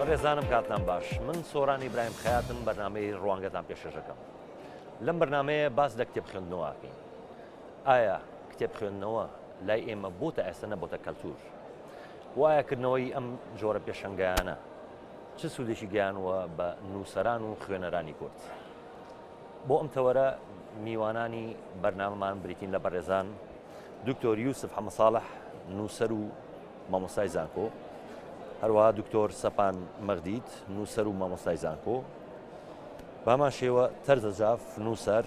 بەڕێزانم کاتان باش من سۆرانی برایم خاتم بەنامەی ڕوانگەتان پێشەکەم لەم بەرنمەیە باس لە کتێب خوێندنەوەکەین ئایا کتێب خوێندنەوە لای ئێمە بۆ تا ئێستا نەبووتە کەلتور وایەکردنەوەی ئەم جۆرە پێشنگایانە چ سوودێکی گەیانووە بە نووسەران و خوێنەرانی کورد؟ بۆ ئەم تەوەرە میوانانی بەرنامەمان بریتین لە بەڕێزان دکتۆر یوسف حەمەساڵح نووسەر و مامۆستای زانکۆ هەروەها دکتۆر سەپان مەغدید نووسەر و مامۆستای زانکۆ بامان شێوە تەرزە زاف نووسەر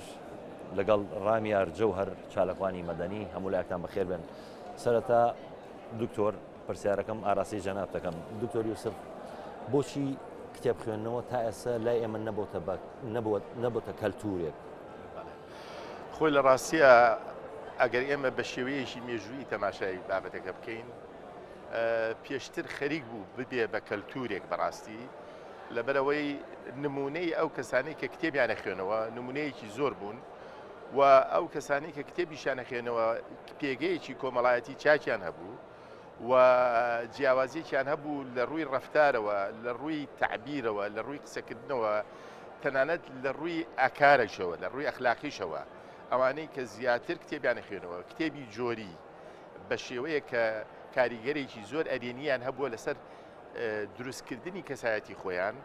لەگەڵ ڕامیار جەوهر چالکوانی مەدەنی هەمولایەکتان بەخێر بن سەرەتا دکتۆر پرسیارەکەم ئاراستەی جەنابت دەکەم دکتۆر یوسف بۆچی کتێب خوێندنەوە تا ئێستا لای ئێمە نەبووتە بەک نەبووە نەبووتە کەلتورێک خۆی لە ڕاستیە ئەگەر ئێمە بە شێوەیەکی مێژووی تەماشای بابەتەکە بکەین پێشتر خەریک بوو ببێ بە کەلتورێک بەڕاستی لەبەرەوەی نمونەی ئەو کەسانی کە کتێبیانە خوێنەوە نمونەیەکی زۆر بوون و ئەو کەسانی کە کتێبیشان نەخێنەوە پێگەیەکی کۆمەڵایەتی چاکیان هەبوو و جیاوازیەکیان هەبوو لە ڕووی ڕفتارەوە لە ڕووی تعبیرەوە لە ڕووی قسەکردنەوە تەنانەت لە ڕووی ئاکارەشەوە لە ڕووی ئەخلاقیشەوە ئەوانەی کە زیاتر کتێبیانە خوێنەوە کتێبی جۆری بە شێوەیە کە کاریگەرێکی زۆر ئەرێنیان هەبووە لەسەر دروستکردنی کەسایەتی خۆیان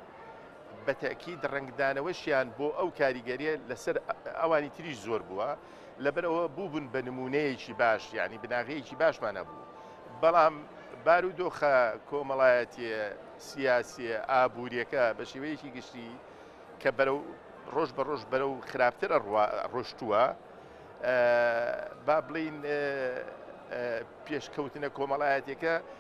بە تەئکید ڕەنگدانەوەشیان بۆ ئەو کاریگەریە لەسەر ئەوانی تریش زۆر بووە لەبەر ئەوە بووبن بە نمونەیەکی باش یعنی بناغەیەکی باشمان هەبوو بەڵام بارو دۆخە کۆمەڵایەتیە سیاسیە ئابووریەکە بە شێوەیەکی گشتی کە بەرەو ڕۆژ بە ڕۆژ بەرە و خراپتر ڕۆشتووە با بڵین پێشکەوتنە کۆمەڵایەتەکە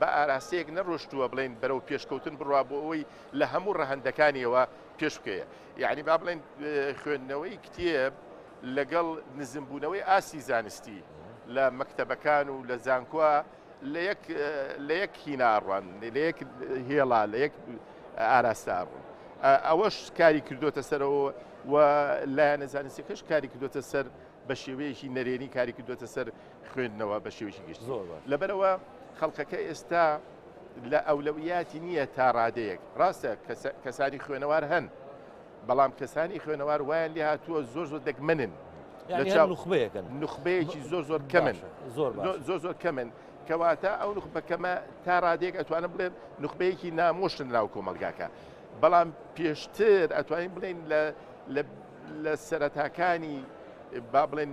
بە ئاراستەیەک نەڕۆشتووە بڵێین بەرەو پێشکەوتن بڕوا بۆ ئەوەی لە هەموو ڕەهەندەکانیەوە پێش بکەیە یعنی با بڵێن خوێندنەوەی کتێب لەگەڵ نزمبوونەوەی ئاستی زانستی لە مەکتەبەکان و لە زانکۆە لە یەک هیناڕوان لە یەک هێڵا لە یەک ئاراستە ئەڕوون ئەوەش کاری کردوتە سەرەوە و لایەنە زانستەکەش کاری کردوتە سەر بە شێوەیەکی نەرێنی کاری کردوتە سەر خوێندنەوە بە شێوەیەکی گشتی زۆر باش. لەبەرەوە خەڵکەکە ئێستا لە ئەولەویاتی نییە تا ڕادەیەک ڕاستە کەسە- کەسانی خوێنەوار هەن بەڵام کەسانی خوێنەوار وایان لێ هاتووە زۆر زۆر دەگمەنن یعنی لە چاو- هەر نوخبەیەکن نخبەیەکی زۆر زۆر کەمن باشە، زۆر باش زۆ- زۆر زۆر کەمن کەواتە ئەو نخبەکەمە تا ڕادێک ئەتوانم بڵێن نخبەیەکی نامۆشن ناو کۆمەلگاکە بەڵام پێشتر ئەتوانین بڵێن لە لە لە سەرەتاکانی با بڵێن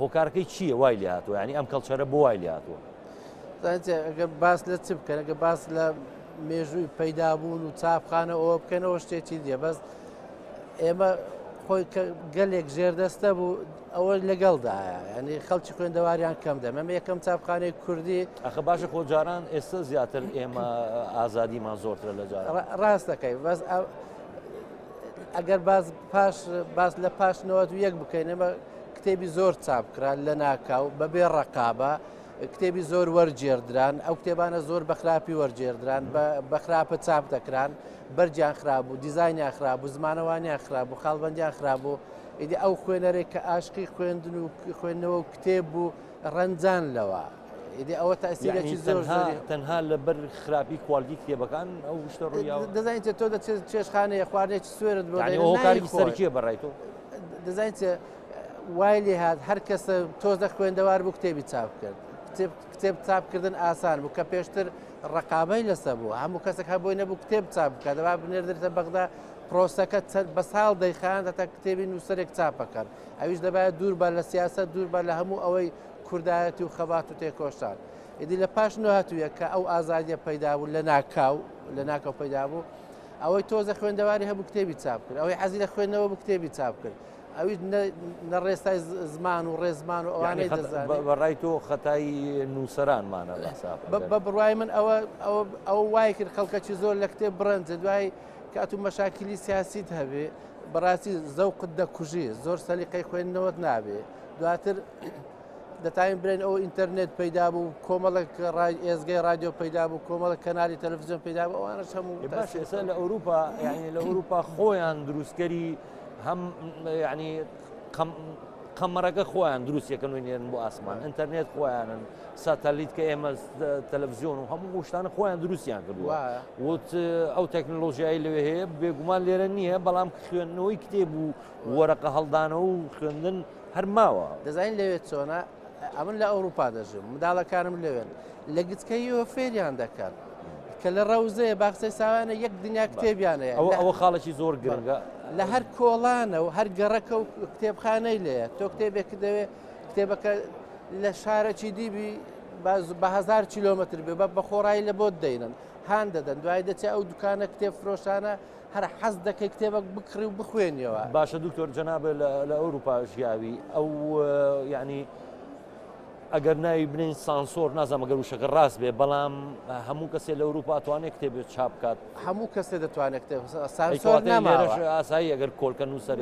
هۆکارەکەی چییە وای لێ هاتووە ینی ئەم کەڵچەرە بۆ وای لێ هاتووە ئەگەر باس لە چ بکەن ئەگە باس لە مێژووی پەیدابوون و چاپخانە ئەوە بکەنەوە شتێکی دیە بەس ئێمە خۆی گەلێک ژێردەستە بوو ئەوە لەگەڵدایە ینی خەڵکی خوێندەواریان کەم دەمە یەکەم چاپخانەی کوردی ئەخە باشە خۆجاران ئێستا زیاتر ئێمە ئازادیمان زۆرترە لە جار ڕاستەکەی بەس ئەگەر باز پاش باز لە پاش نەوەت و یەک بکەین ئەمە کتێبی زۆر چاپکران لە ناکاو بەبێ ڕقابە کتێبی زۆر وەرجێردران ئەو کتێبانە زۆر بەخراپی وەرجێردران بەخراپە چاپ دەکران بەرجیان خراب بوو دیزانیان خراب بوو زمانەوانیان خراب بوو خاڵبندیان خراب بوو ئیدی ئەو خوێنەرێک کە ئاشقی خوێندن و خوێندنەوە و کتێب بوو ڕەنجان لەوە. ئیدی ئەوە تاسیرێکی زۆر تەنها لەبەر خراپی کوالگی کتێبەکان ئەو شتە ڕوویاوە دەزانیت تۆ دەچێت چێشخانەیە خواردێکی سوێرت بۆکاری سەرکیە بەڕای تۆ دەزانیت وای لێ هاات هەر کەسە تۆزە خوێندەوار بوو کتێبی چاپ کرد کتێب چاپکردن ئاسان بوو کە پێشتر ڕقابەی لەسە بوو هەموو کەسێک هەبووی نەبوو کتێب چاپ بکات دەبا بنێردرێتە بەغدا پرۆسەکە بە ساڵ دەیخان هەتا کتێبی نووسەرێک چاپەکەن ئەویش دەبایە دوور بە لە سیاست دوور بە لە هەموو ئەوەی کوردایەتی و خەبات و تێکۆشان ئیدی لە پاش نۆ هەتوویە کە ئەو ئازادیە پەیدا بوو لە ناکاو لە ناکەو پەیدا بوو ئەوەی تۆزە خوێندەواری هەبوو کتێبی چاپ کرد ئەوەی حەزی لە خوێندنەوە بوو کتێبی چاپ کرد ئەوی نە ڕێستای زمان و ڕێزمان و ئەوانەی بەڕای تۆ خەتایی نووسەرانمانە بە بڕای من ئەوە ئەو وای کرد خەڵکەکی زۆر لە کتێب بڕەنجە دوای کاتو مەشاکیلی سیاسیت هەبێ بەڕاستی زەوقت دەکوژی زۆر سەلیقەی خوێندنەوەت نابێ دواتر دەتاین برێن ئەو ئینتەرنێت پەیدا بوو کۆمەڵک ڕای ئێزگەی رادیۆ پەیدا بوو کۆمەڵک کەناری تەلەڤزیۆن پەیدا بوو ئەوانە هەموو باشێسە لە ئەوروپا یعنی لە ئەوروپا خۆیان دروستکەری هەم ینی قەمەرەکە خۆیان دروستەکەن و نێرن بۆ ئاسمان ئینتەرنێت خۆیانن ساتەلیت کە ئێمە تەلەڤزیۆن و هەموو گوشتانە خۆیان دروستیان کردووە وت ئەو تەکنۆلۆژیایی لەوێ هەیە بێگومان لێرە نییە بەڵام خوێندنەوەی کتێب و وەرەقە هەڵدانەوە و خوێندن هەر ماوە. دەزانین لەوێ چۆنە؟ ئەمن لە ئەوروپا دەژیم، منداڵەکانم لەوێن، لە گچکەییەوە فێریان دەکەن. کە لە ڕەوزەیە باخچەی ساوایانە یەک دنیا کتێبیانەیە ئەوە خاڵێکی زۆر گرنگە لە هەر کۆڵانە و هەر گەڕەکە و کتێبخانەی لەیە تۆ کتێبێک دەوێت کتێبەکە لە شارەکی دیبی بەهزار کیلومتر بێ بە بەخۆڕایی لە بۆت دەینن هاان دەدەن دوای دەچێت ئەو دوکانە کتێب فرۆشانە هەر حەز دەکەی کتێبەک بکڕی و بخوێنیەوە. باشە دکتۆر جەناب لە ئەوروپا ژیاوی ئەو یعنی ئەگەر ناوی بنین سانسۆر نازانم گەر وشەکە ڕاست بێ بەڵام هەموو کەسێ لە ئەوروپا توانێت کتێبێت چاپ بکات هەموو کەسێ دەتوانێت کتێب سانسۆر نامارەش ئاسایی ئەگەر کۆلکە نووسەر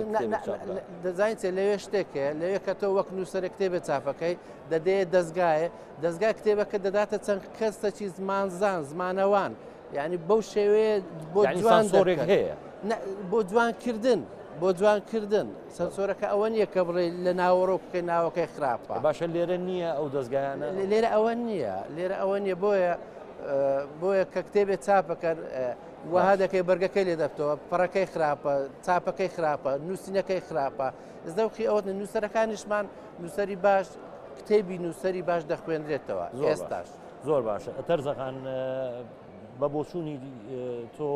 دەزانین چێ لەوێ شتێکێ لەوێ کە تۆ وەک نووسەر کتێبێ چاپەکەی دەدێ دەستگایە دەستگای کتێبەکە دەداتە چەند کەسەکی زمانزان زمانەوان یعنی بەو شێوەیە بۆ جوان سۆرێک هەیە بۆ جوانکردن بۆ جوانکردن سەرسۆرەکە ئەوە نییە کە بڵێ لە ناوەڕۆ بکە ناوەکەی خراپە باشە لێرە نییە ئەو دەستگایانە لێرە ئەوە نییە لێرە ئەوە نییە بۆیە بۆیە کە کتێبێت چاپەکەن وەها دەکەی بەرگەکەی لێ دەبتەوە پڕەکەی خراپە چاپەکەی خراپە نووسینەکەی خراپە زەوقی ئەوت نووسەرەکانیشمان نووسری باش کتێبی نووسری باش دەخوێنرێتەوە ئێستاش. زۆر باشە تەرزەخان بە بۆچوونی تۆ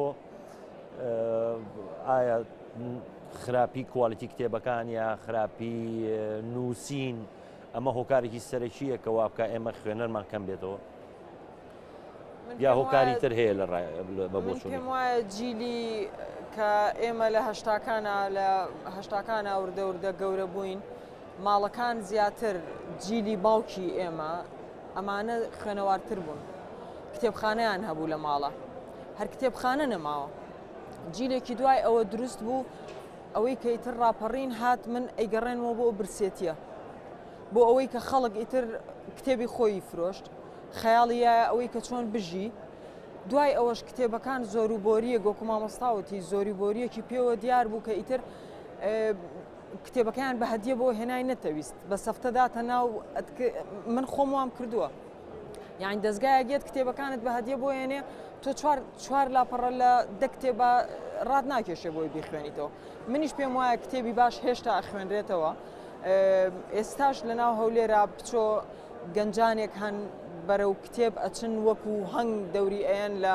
ئایا خراپی کوالیتی کتێبەکان یا خراپی نووسین ئەمە هۆکارێکی سەرەکیە کە وابکە ئێمە خوێنەرمان کەم بێتەوە یا هۆکاری تر هەیە لە پێم وایە جیلی کە ئێمە لە هەشتاکانە لە هەشتاکانە وردەوردە گەورە بووین ماڵەکان زیاتر جیلی باوکی ئێمە ئەمانە خوێنەوارتر بوون کتێبخانەیان هەبوو لە ماڵە هەر کتێبخانە نەماوە جیلێکی دوای ئەوە دروست بوو ئەوەی کە ئیتر ڕاپەڕین هات من ئەیگەڕێنەوە بۆ برسێتیە بۆ ئەوەی کە خەڵک ئیتر کتێبی خۆی فرۆشت خەیاڵیە ئەوەی کە چۆن بژی دوای ئەوەش کتێبەکان زۆر و بۆریە گۆکو مامۆستاوتی زۆری بۆریەکی پێوە دیار بوو کە ئیتر کتێبەکەیان بە هەدیە بۆ هێنای نەتەویست بە سەفتە داتە ناو من خۆم وام کردووە یان دەستگایە گێت کتێبەکانت بە هەدیە بۆ هێنێ تۆ چوار لاپەڕە لە دە کتێبە ڕات ناکێشێ بۆی بیخوێنیتەوە منیش پێم وایە کتێبی باش هێشتا خوێنرێتەوە ئێستاش لە ناو هەولێرا بچۆ گەنجانێک هەن بەرەو کتێب ئەچن وەکو هەنگ دەوری ئەیەن لە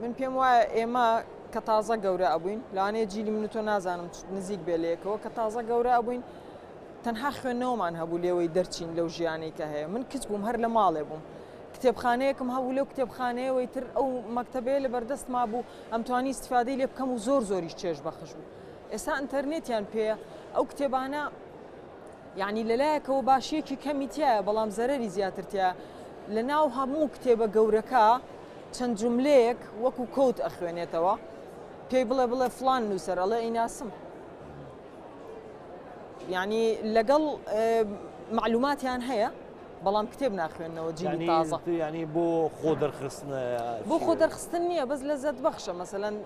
من پێم وایە ئێمە کە تازە گەورە ئەبووین لەوانەیە جیلی من تۆ نازانم نزیک بێ لەیەکەوە کە تازە گەورە ئەبووین تەنها خوێندنەوەمان هەبوو لێوەی دەرچین لەو ژیانی کە هەیە من کچ بووم هەر لە ماڵێ بووم کتێبخانەیەکم هەبوو لەو کتێبخانەیەوەی تر ئەو مەکتتەبێ لە بەردەست ما بوو ئەمتوانی استفادەی لێ بکەم و زۆر زۆریش چێژ بەخش بوو ئێستا ئەتەرنێتیان پێ ئەو کتێبانە یەعنی لەلایەکەوە باشیەکی کەمی تیایە بەڵام زەرەری زیاتر تیا لە ناو هەموو کتێبە گەورەکە چەند جملەیەک وەکو کۆت ئەخوێنێتەوە پێی بڵێ بڵێ فلان نووسەر ئەڵێ ئیناسم یعنی لەگەڵ معلوماتیان هەیە بەڵام کتێب ناخوێنەوە جیلی تازە ینی بۆ خۆ دەرخستن بۆ خۆ دەرخستن نییە بەس لە زەت بەخشە مەسەەن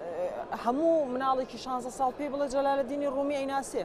هەموو مناڵێکی 16 ساڵ پێی بڵێ جەلالە دینی ڕومی ئەیناسێ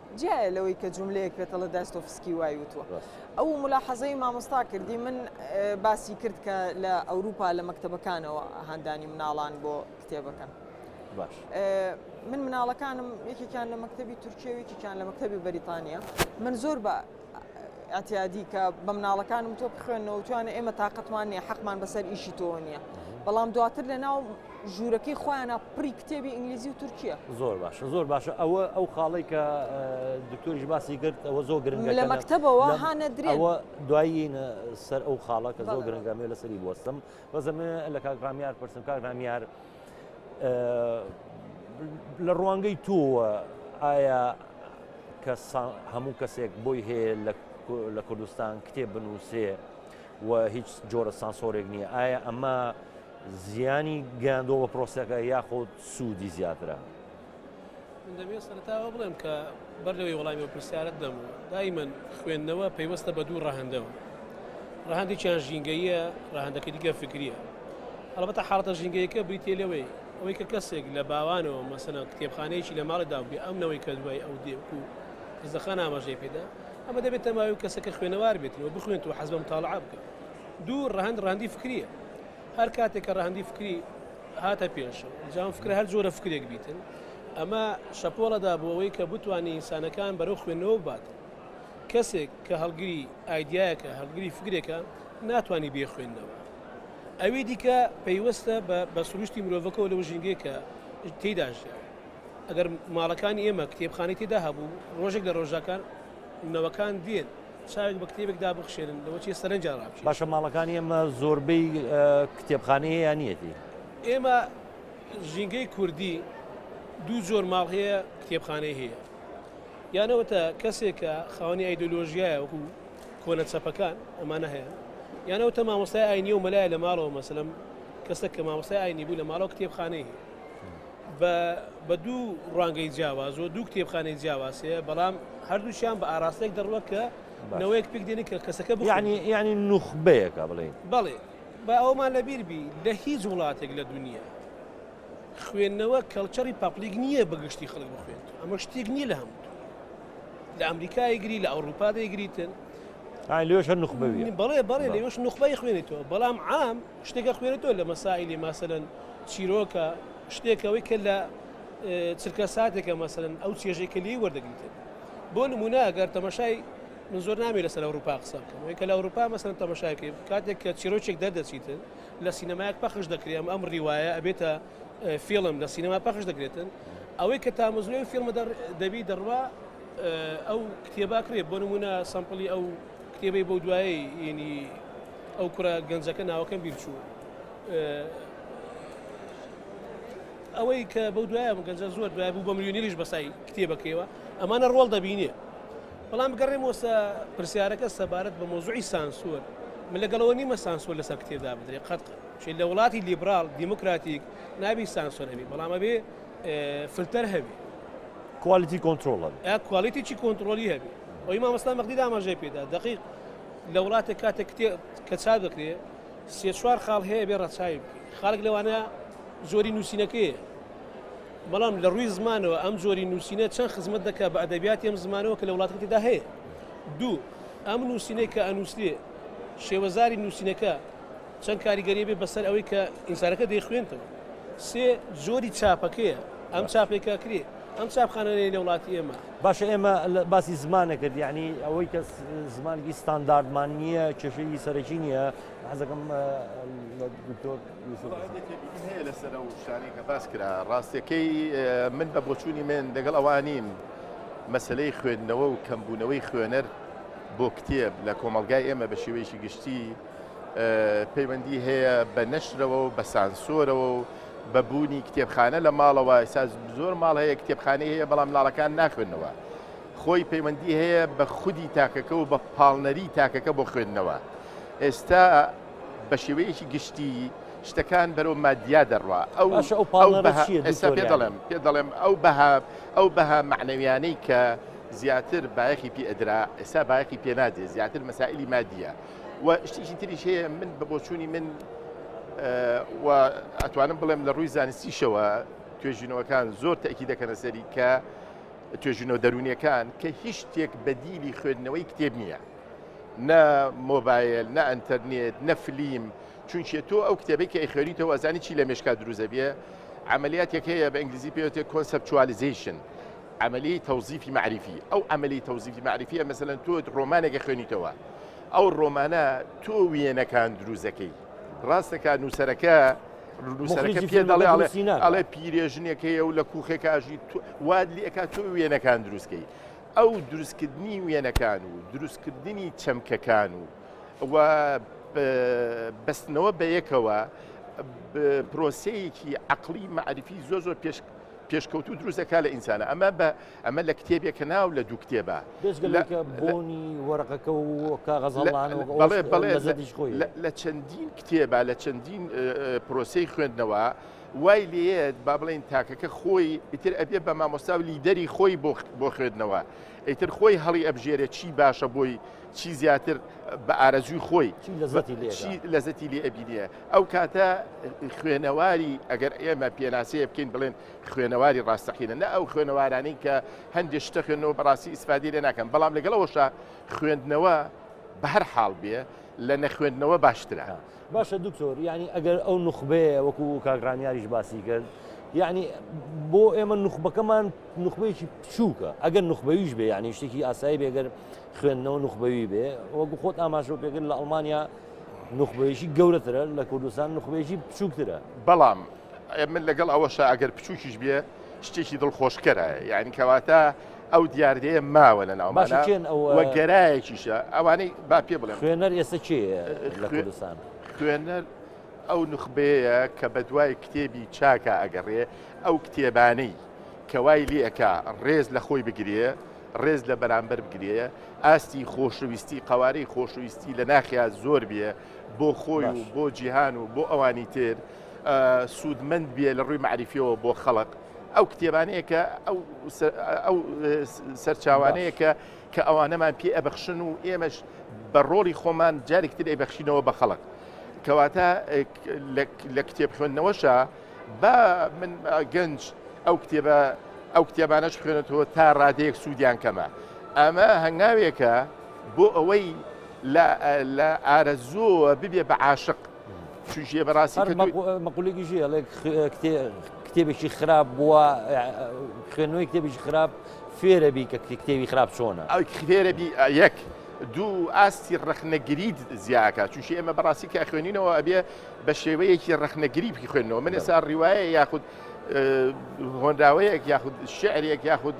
جیایە لەوەی کە جوملەیەک پێتە ڵە داستۆفسکی وای وتووە ئەو ملاحەزەی مامۆستا کردی من باسی کرد کە لە ئەوروپا لە مەکتتەبەکانەوە هاندانی مناڵان بۆ کتێبەکە باش من مناڵەکانم یەکێکیان لە مەکتتەبی تورکیەوەیەکیان لە مەکتتەبی بەریتانیا من زۆر بە ئەتیادی کە بە مناڵەکانم تۆ بخوێنەوە توانە ئێمە تااقەتمان نیە حەقمان بەسەر ئیشی تۆ نییە بەڵام دواتر لە ناو ژوورەکەی خۆیانە پڕی کتێبی ئینگلیزی و تورکیا زۆر باشە زۆر باشە ئەوە ئەو خاڵی کە دکتۆریش باسی کرد ئەوە زۆر گرنگ لە مەکتتەبەوە هاە درێەوە دوایی سەر ئەو خاڵە کە زۆر گرنگەمێ لەسەری بستم بەزەمێ لە کاکرامیار پرسم کاکرامیار. لە ڕوانگەی تۆوە ئایا کە هەموو کەسێک بۆی هەیە لە کوردستان کتێب بنووسێ و هیچ جۆرە سانسۆرێک نییە ئایا ئەمە زیانی گەیاندۆ بە پرۆسەکە یاخود سوودی زیاترە من دەبێت سەرتاوە بڵێم کە بەر لەوەی وڵامی و پرسیارت دەم و دایمەن خوێندنەوە پەیوەستە بە دوو ڕەهندەوە ڕەهندێکیان ژینگەیە ڕەهندەکە دیگە فکریە هەڵبەتە حاڵەتە ژینگەیەکە بریتێ لەوەی ئەوەی کە کەسێک لە باوانەوە مەسەنە کتێبخانەیەکی لە ماڵێدا بێ ئەم نەوەی کە دوای ئەو دێک و زەخان ئاماژەی پێدا ئەمە دەبێت تەماوی کەسەکە خوێنەوار بێتەوە بخوێنەوە حەزم تاڵعاب بکە دوو ڕەهند ڕاندی فکریە هەر کاتێک کە ڕەهەندی فکری هاتە پێش جام فکرە هەر جۆرە فکرێک بیتن ئەمە شەپۆڵەدا بۆ ئەوەی کە بتوانانی ئینسانەکان بەرەو خوێندنەوە بات کەسێک کە هەڵگری ئایدایەکە هەڵگری فکرێکە ناتانی بێ خوێندنەوە ئەوی دیکە پەیوەستە بە سروشتی مرۆڤەکەەوە لەو ژینگەیەکە تێداژە ئەگەر ماڵەکانی ئێمە کتێبخانی تێدا هەبوو ڕۆژێک لە ڕۆژەکان نەوەکان دێن چاوێک بە کتێبێک دابخشێنن لەوە چیە سەرنجیان ڕابکێشن. باشە ماڵەکانی ئێمە زۆربەی کتێبخانەی هەیە یان نییەتی؟ ئێمە ژینگەی کوردی دوو جۆر ماڵ هەیە کتێبخانەی هەیە یان ئەوەتە کەسێکە خاوەنی ئایدۆلۆژیایە وەکو کۆنە چەپەکان ئەمانە هەیە یان ئەوتە مامۆستای ئاینیە و مەلایە لە ماڵەوە مەسەلەم کەسە کە مامۆستای ئاینی بوو لە ماڵەوە کتێبخانەی هەیە بە دوو ڕوانگەی جیاواز و دوو کتێبخانەی جیاواز هەیە، بەڵام هەردووکیان بە ئاراستەیەک دەڕوات کە نەوەیەک پێک دێنێت کە کەسەکە بخوێنێت. یانی یانی نوخبەیەکە بڵێین. بەڵێ. با ئەوەمان لەبیر بی لە هیچ وڵاتێک لە دونیا خوێندنەوە کەڵچەری پەپڵیک نییە بە گشتی خەڵک بخوێنێتەوە. ئەمە شتێک نییە لە هەموو دونیا. لە ئەمریکا ئەیگری، لە ئەوڕووپا دەیگریتن. ئای لەوێش هەر نوخبەوییە. بەڵێ بەڵێ لەوێش نوخبەی خوێنێتەوە، بەڵام عام. شتێک ئەخوێنێتەوە لە مەسائیلی مەسەلەن چیرۆکە شتێکەوەی کە لە چرکە ساتێکە مەسەلەن ئەو چێژەی کە لێی وەردەگیتێت بۆ نمونە ئەگەر تەمەشای من زۆر نامی لەسەر ئەوروپا قسە بکەم کە لە ئەوروپا مەسەن تەمەشاکەی کاتێک کە چیرۆچێک دەردەچیتن لە سینەمایەک پەخش دەکرێم ئەم ڕیواە ئەبێتە فیلم لە سینەما پەخش دەکرێتن ئەوەی کە تامزلۆی فیلمە دەبی دەڕوا ئەو کتێباکرێت بۆ نمونە سەمپلی ئەو کتێبەی بۆ دوایی ینی ئەو کوڕە گەنجەکە ناوەکەم بیرچوو ئەوەی کە بەو دوایە بوو گەنجە زۆر دوای بوو بە ملیۆنیریش بەسای کتێبەکەیەوە ئەمانە ڕۆڵ دەبینێ بەڵام بگەڕێم وەسە پرسیارەکە سەبارەت بە مۆزوعی سانسۆر من لەگەڵەوە نیمە سانسۆر لەسەر کتێبدا بدرێ قەت چی لە وڵاتی لیبرال دیموکراتیک نابی سانسۆر هەبی بەڵامە بێ فلتەر هەبی کوالیتی کۆنتترۆڵ کوالیتیی کۆنتترۆلی هەبی ئەوی مامەستا مەقدی داماژەی پێدا دقیق لە وڵاتێک کاتێک کتێب کە چاپ دەکرێ سێ چوار خاڵ هەیە بێ ڕەچاوی بکەی خاڵک لەوانە جۆری نووسینەکەی بەڵام لە ڕووی زمانەوە ئەم جۆری نووسینە چەند خزمەت دەکە بە ئەدەبیاتی ئەم زمانەوە کە لە وڵاتەکەدا هەیە دوو ئەم نووسینەی کە ئەنووسێ شێوەزاری نووسینەکە چەند کاریگەری بێ بەسەر ئەوەی کە ئینسانەکە دەیخوێنتەوە سێ جۆری چاپەکەیە ئەم چاپێکاکرێت ئەم چاپخانە نەی لەوڵاتی ئێمە. باشە ئێمە باسی زمانە کرد یعنی ئەوەی کە زمانگی ستانداردمان نییە کێشەی سەرەکی نییە حەزەکەم لەسەر و شانی کە باس کرا ڕاستەکەی من بە بۆچوونی من دەگەڵ ئەوانیم مەسلەی خوێندنەوە و کەمبوونەوەی خوێنەر بۆ کتێب لە کۆمەلگای ئێمە بە شێوەیەکی گشتی پەیوەندی هەیە بە نەشرەوە و بە سانسۆرەوە و بە بوونی کتێبخانە لە ماڵەوە ئێستا زۆر ماڵ هەیە کتێبخانەی هەیە بەڵام مناڵەکان ناخوێنەوە خۆی پەیوەندی هەیە بە خودی تاکەکە و بە پاڵنەری تاکەکە بۆ خوێندنەوە ئێستا بە شێوەیەکی گشتی شتەکان بەرەو مادیا دەڕوا ئەو ئێستا پێ دەڵێم پێ دەڵێم ئەو بەها ئەو بەها معنەویانەی کە زیاتر بایەخی پێ ئەدرا ئێستا بایەخی پێنادێ زیاتر مەسائلی مادیە و شتیکی تریش هەیە من بە بۆچوونی من و ئەتوانم بڵێم لە ڕووی زانستیشەوە توێژینەوەکان زۆر تەکی دەکەنە سەری کە توێژینەوە دەرونیەکان کە هیچ شتێک بەدیلی خوێندنەوەی کتێب نییە نە مۆبایل نە ئەتەرنێت نە فلیم چونچێ تۆ ئەو کتێبی کە ئەیخێریتەوە ئەزانی چی لە مێشکا دروزە بێ عملیاتێک هەیە بە ئینگلیزی پێوتێ کۆنسپچوالیزیشن عەمەلیەی تەوزیفی مەعریفی، ئەو عەمەلی تەوزیفی مەعریفیە مەسەلەن تۆ ڕۆمانێک ئەخوێنیتەوە ئەو ڕۆمانە تۆ وێنەکان دروست دەکەی ڕاستەکە نووسەرەکە نووسەرەکە پێ دەڵێ ئەڵێ پیرێژنێک هەیە و لە کوخێک ئاژی واد لە ئەکات تۆ وێنەکان دروستکەی ئەو دروستکردنی وێنەکان و دروستکردنی چەمکەکان و و بەستنەوە بە یەکەوە پرۆسەیەکی عقلی معرفی زۆر زۆر پێش پێشکەوتوو دروست دەکات لە ئینسانە ئەمە بە ئەمە لە کتێبێک کە ناو لە دوو کتێبە بۆنی وەرقەکە و کاغەزڵانەوەڵێ بەڵێ لە چەندین کتێبە لە چەندین پرۆسی خوێندنەوە وای لێت با بڵێن تاکەکە خۆی ئیتر ئەبێ بە مامۆستا و لیدەری خۆی بۆ خوێندنەوە ئیتر خۆی هەڵی ئەبژێرە چی باشە بۆی چی زیاتر بە ئارەزوی خۆی لەزەتی لەزەتی لێ ئەبینە ئەو کاتە خوێنەواری ئەگەر ئێمە پێناسەیە بکەین بڵێن خوێنەواری ڕاستەقینە نە ئەو خوێنەوارانی کە هەندێک شتە خوێنەوە بەڕاستی ئیسفادی لێ ناکەم بەڵام لەگەڵەوەشە خوێندنەوە بە هەر حاڵ بێ لە نەخوێندنەوە باشترە باشە دکتۆر ینی ئەگەر ئەو نخبەیە وەکو کاگرانیاریش باسی کرد یعنی بۆ ئێمە نخبەکەمان نخبەیەکی بچووکە ئەگەر نخبەویش بێ یعنی شتێکی ئاسایی بێگەر خوێندنەوە نخبەوی بێ وەکو خۆت ئاماژۆ پێگر لە ئەڵمانیا نوخبەیەکی گەورەترە لە کوردستان نوخبەیەکی بچووکترە بەڵام من لەگەڵ ئەوەشە ئەگەر بچووکیش بێ شتێکی دڵخۆشکەرە یعنی کەواتە ئەو دیاردەیە ماوە لە ناو باشێن گەرایەکیشە ئەوانەی با پێ بڵێ خوێنەر ئێستا چێ لە کوردستان خوێنەر ئەو نخبەیە کە بە دوای کتێبی چاکە ئەگەڕێ ئەو کتێبانەی کەوای لێکە ڕێز لە خۆی بگرێ ڕێز لە بەرامبەر بگرێ، ئاستی خۆشەویستی، قەوارەی خۆشەویستی لە ناخیا زۆر بێ بۆ خۆی و باش. بۆ جیهان و بۆ ئەوانی تر ئا سوودمەند بێ لە ڕووی مەعریفییەوە بۆ خەڵق. ئەو کتێبانەیە کە ئەو سە ئەو س سەرچاوانەیە باش. کە کە ئەوانەمان پێ ئەبەخشن و ئێمەش بە ڕۆڵی خۆمان جارێکی تر ئەیبەخشینەوە بە خەڵق. کەواتە ئێک لە لە کتێب خوێندنەوەشا. با من گەنج ئەو کتێبە ئەو کتێبانەش خوێنێتەوە تا ڕادەیەک سوودیان کەمە ئەمە هەنگاوێکە بۆ ئەوەی لە ئارەزووە ببێ بە عاشق چژێ بەڕاستی مەقولێکی ژێ کتێبێکی خراپ بووە خوێنەوەی کتێبێکی خراپ فێرەبی کە کتێبی خراپ چۆنە ئەو فێرەبی یەک دوو ئاستی ڕخنەگریت زیاکە چونشی ئێمە بەڕاستی کە خوێنینەوە ئەبێ بە شێوەیەکی ڕەخنەگریی خوێندنەوە من ئێستا ڕیواە یاخود هۆنراوەیەک یاخود شعرێک یاخود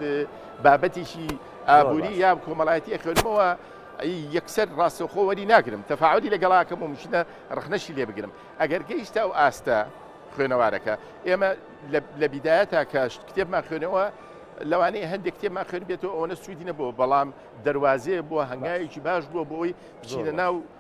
بابەتیشی ئابووری یا کۆمەڵایەتی خوێنمەوە یەکسەر ڕاستەخۆ وەری ناگرم تەفاعلی لەگەڵاکەم و مشنە ڕخنەشی لێ بگرم ئەگەر گەیشتا و ئاستە خوێنەوارەکە ئێمە لە بیدایەتە کە کتێبمان خوێنەوە لەوانەیە هەندێک کتێبمان خوێن بێتەوە ئەوەنە سوودی نەبوو بەڵام دەواازەیە بۆ هەنگایەکی باش بووە بۆی بچینە ناو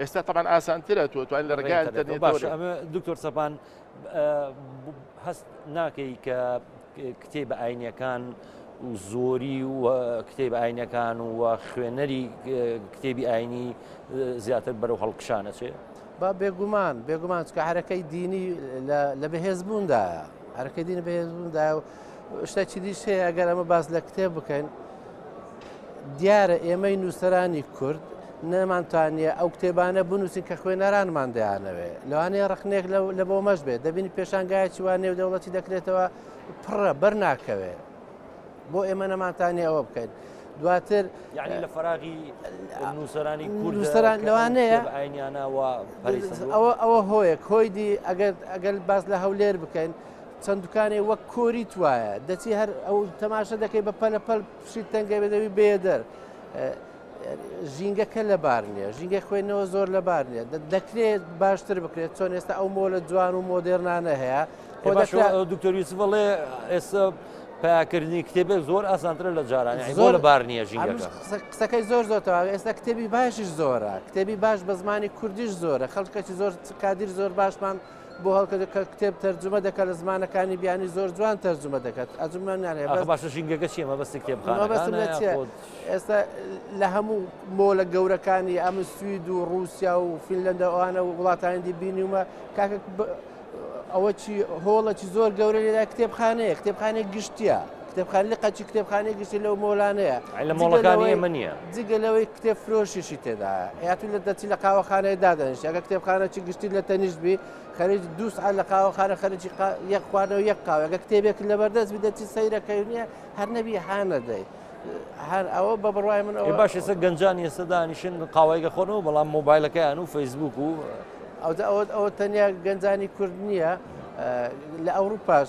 ئێستا تەبان ئاسانترە تۆ توانین لە ڕێگای ئەتەرنێتەوە ئەمە دکتۆر سەپان هەست ناکەی کە کتێ بە ئاینەکان و زۆری و کتێب ئاینەکان و خوێنەری کتێبی ئاینی زیاتر بەرەو هەڵکشانەچێ با بێگومان بێگومان چکە هەرەکەی دینی لە بەهێزبووندایە هەرەکە دین بەهێزبووندایە و شتێکی دیش هەیە ئەگەر ئەمە باس لە کتێب بکەین دیارە ئێمەی نووسرانی کورد نەمانتوانە ئەو کتێبانە بنووسین کە خوێنەرانمان دەیانەوێ لەوانەیە ڕخنێک لە بۆ مەش بێت دەبینی پێشانگایکی وان نێو دەوڵەتی دەکرێتەوە پڕە بەر ناکەوێ بۆ ئێمە نەمانتانی ئەوە بکەین دواتر یعنی لە فراغی نووسرانی کوردسران لەوانەیە ئاینیانەوە ئەوە ئەوە هۆیەک هۆیدی ئەگەر ئەگەر باز لە هەولێر بکەین چەند دوکانێ وەک کۆریت وایە دەچی هەر ئەو تەماشە دەکەی بە پەلە پەل پشیت تەنگە بێدەوی بێدەر ژینگەکە لەبار نییە ژینگە خوێنەوە زۆر لەبار نیە دەکرێت باشتر بکرێت چۆن ئێستا ئەو مۆلە جوان و مۆدررنانە هەیە دکتۆریسی بڵێ ئێستا پاکردنی کتێبێک زۆر ئاسانترە لە جاران زۆر لە بار نییە ژینگە قسەکەی زۆر زۆر تەواوی ئێستا کتێبی باشیش زۆرە کتێبی باش بە زمانی کوردیش زۆرە خەڵکەی زۆر کادیر زۆر باشمان بۆ هەڵکە کە کتێب تەرجمە دەکات لە زمانەکانی بیانی زۆر جوان تەرجمە دەکات ئەزمان ناێ باش ژینگەکە چیە مەبەست کتێب ئێستا لە هەموو مۆلە گەورەکانی ئەم سوید و رووسیا و فیلەندە ئەوانە و وڵاتانی بینیومە کاکە ئەوە چی هۆڵەکی زۆر گەورە لێدا کتێبخانەیە کتێبخانێک گشتە کتێبخانە لە قەدچی کتێبخانەی گشتی لەو مۆلانەیە لە مۆڵەکانی ئێمە نییە جگە لەوەی کتێب فرۆشیشی تێدا یاتون لە دەچی لە قاوەخانەیە دادەنیش ئەگە کتێبخانەی گشتی لە تەنیشت بی خەرج دووس لە قاوەخانە خەرجی یەک خوانەوە یەک قاوەگە کتێبێک لە بەردەست بدەچی سەیرەکەی نییە هەر نەبی هانەدەی. هەر ئەوە بە بڕای من ئەو باش ئێستا گەنجان ئێستا دانیشن قاوایگە خۆنەوە بەڵام مۆبایلەکەیان و فەیسبوک و ئەودا ئەوە ئەوە تەنیا گەنجانی کورد نییە لە ئەوروپاش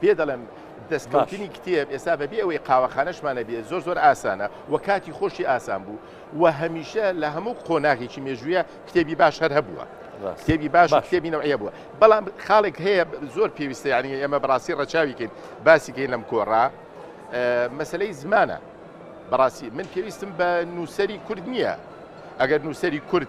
پێ دەڵێم دەستکەوتنی کتێب ئێستا بەبێ ئەوەی قاوەخانەشمان هەبێت زۆر زۆر ئاسانە و کاتی خۆشی ئاسان بوو و هەمیشە لە هەموو قۆناغێکی مێژوویە کتێبی باش هەر هەبووە کتێبی باش کتێبی نەوەیە بووە بەڵام خاڵێک هەیە زۆر پێویستە یعنی ئێمە بەڕاستی ڕەچاویکەین باسیکەین لەم کۆڕا مەسلەی زمانە بەڕاستی من پێویستم بە نووسری کورد نییە ئەگەر نووسری کورد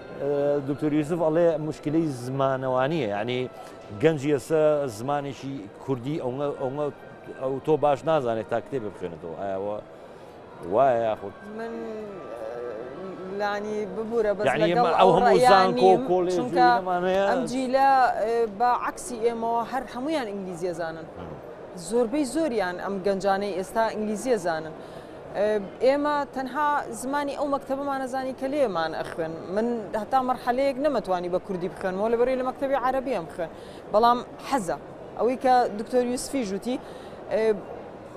دکتۆر یوسف ئەڵێ مشکلی زمانەوانیە ینی گەنجی ئێستا زمانێکی کوردی ئەوە ئەو تۆ باش نازانێت تا کتێب بخێنێتەوە ئاوە وایە یاخود من لانی ببوورە بە ئەو هەموو زانکۆ کۆلێژمانەیە ئەم جیلە بە عکسی ئێمەوە هەر هەمویان ئینگلیزیە زانن زۆربەی زۆریان ئەم گەنجانەی ئێستا ئینگلیزیە زانن. ئێمە تەنها زمانی ئەو مەکتەبەمانە زانی کە لێمان ئەخوێن من هەتا مەرحەلەیەک نەمەتوانی بە کوردی بخوێنەوە لە بەری لە مەکتتەبی عربیم خوێن بەڵام حەزە ئەوەی کە دکتۆر یوسفی ژووتی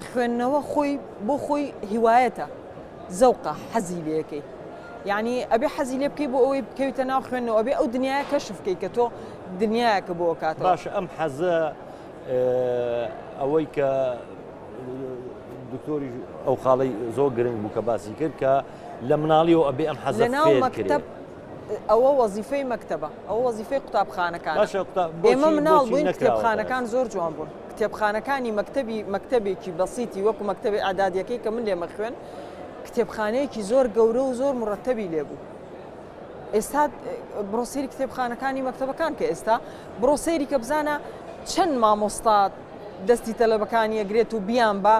خوێندنەوە خۆی بۆ خۆی هیوایەتە زەوقە حەزی لەکەی یعنی ئەبێ حەزی لێ بکەی بۆ ئەوەی بکەویتە ناو خوێنەوە ئەبێ ئەو دنیاە کەشف بکەی کە تۆ دنیاکە بۆ کات باش ئەم حەزە ئەوەی کە دکتۆریش ئەو خاڵی زۆر گرنگ بوو کە باسی کرد کە لە مناڵیەوە ئەبێ ئەم حەزە مەکتب ئەوە وەزیفەی مەکتتەبە ئەو وەزیفەی قوتابخانەکان ئێمە مناڵ بووین کتێبخانەکان زۆر جوان بوون کتێبخانەکانی مەکتتەبی مەکتتەبێکی بەسیتی وەکو مەکتتەبی ئادادیەکەی کە من لێمە خوێن کتێبخانەیەکی زۆر گەورە و زۆر مرتەبی لێبوو ئێستا بڕۆسیری کتێبخانەکانی مەکتتەبەکان کە ئێستا بڕۆسەیری کە بزانە چەند مامۆستا دەستی تەلەبەکانی ئەگرێت و بیان با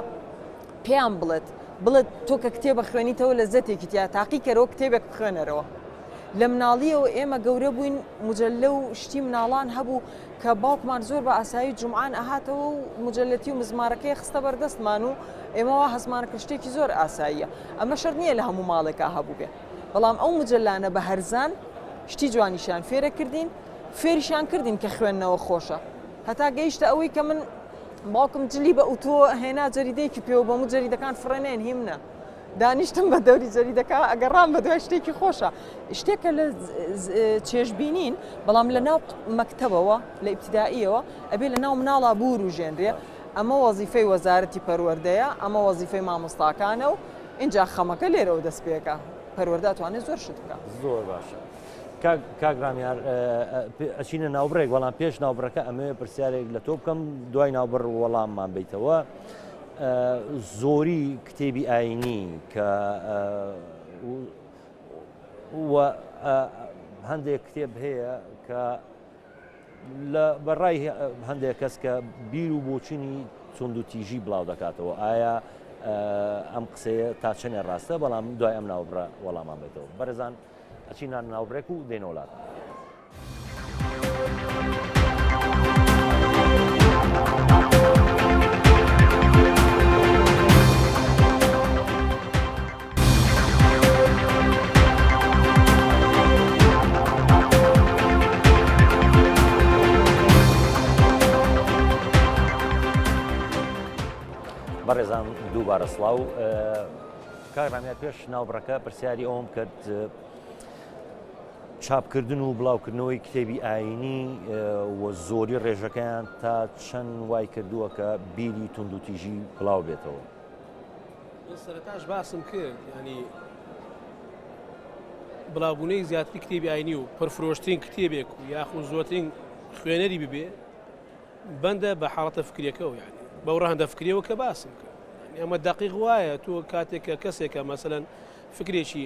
پێیان بڵێت بڵێت تۆ کە کتێبە خوێنیتەوە لە زەتێکی تیا تاقیکەرەوە کتێبێک بخوێنەرەوە لە مناڵیەوە ئێمە گەورە بووین مجللە و شتی مناڵان هەبوو کە باوکمان زۆر بە ئاسایی جمعان ئەهاتەوە و مجلەتی و مزمارەکەی خستە بەردەستمان و ئێمەوە هەزمانە کشتێکی زۆر ئاساییە ئەمە شەر نییە لە هەموو ماڵێکا هەبوو بێ بەڵام ئەو مجللانە بە هەرزان شتی جوانیشان فێرە کردین فێریشان کردین کە خوێندنەوە خۆشە هەتا گەیشتە ئەوەی کە من باوکم جلی بە ئوتۆ هێنا جەریدەیەکی پێوە بۆم و جەریدەکان فڕێنێن هی منە. دانیشتم بە دەوری جەریدەکە ئەگەڕام بە دوای شتێکی خۆشە شتێکە لە چێژبینین بەڵام لە ناو مەکتەبەوە لە ئیبتداییەوە ئەبێ لە ناو مناڵا بور و ژێنرێ ئەمە وەزیفەی وەزارەتی پەروەردەیە ئەمە وەزیفەی مامۆستاکانە و اینجا خەمەکە لێرەوە دەست پێەکە پەروەداتوانێت زۆر شت بکە زۆر باشە کاک رامیار ئەچینە ناوبڕێک وەڵام پێش ناوبڕەکە ئەمێ پرسیارێک لە تۆ بکەم دوای ناوبڕ وەڵاممان بیتەوە زۆری کتێبی ئاینی کە هەندێک کتێب هەیە کە لە بەڕای هەندێک کەس کە بیر و بۆچینی چۆند و تیژی بڵاو دەکاتەوە ئایا ئەم قسەیە تا چەنێ ڕاستە بەڵام دوای ئەم ناوبڕە وەڵامان بێتەوە بەرزان ئەچینە ناوبرێک و دێنەوە لات. بەڕێزان دووبارە سڵاو کاک ڕامیار پێش ناوبڕەکە پرسیاری ئەوەم کرد چاپکردن و بڵاوکردنەوەی کتێبی ئاینی و زۆری ڕێژەکەیان تا چەند وای کردووە کە بیری توندوتیژی بڵاو بێتەوە سەرتاش باسم کرد ینی بڵاوبوونەی زیاتری کتێبی ئاینی و پرفرۆشتین کتێبێک و یاخود زۆترین خوێنەری ببێ بەندە بە حاڵەتە فکریەکەو یانی بەو ڕەهەندە فکریەوە کە باسم کرد یانی ئەمە دقیق وایە تۆ کاتێک کە کەسێکە مەسەن فکرێکی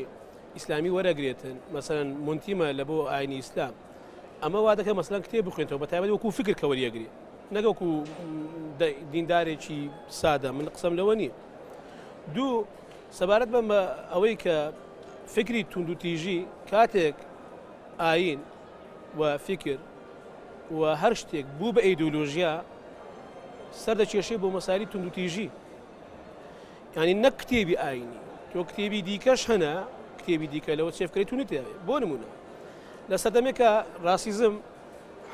ئیسلامی وەرەگرێتن مەسەن منتیمە لە بۆ ئاینی ئیسلام ئەمە وا دەکە مەسلەن کتێ بخوێنەوە بە تایبەت وەکو فکر کە وەریەگری نەگەکو دیندارێکی سادە من قسەم لەوە نییە دوو سەبارەت بە ئەوەی کە فکری توندوتیژی کاتێک ئاین و فیکر و هەر شتێک بوو بە ئەیدۆلۆژیا سەر دەکێشێ بۆ مەسایلی توندوتیژی یعنی نەک کتێبی ئاینی تۆ کتێبی دیکەش هەنە کتێبی دیکە لەوە چێفکەی تونی تێ بۆ نمونە لە سەردەمێکە ڕاسیزم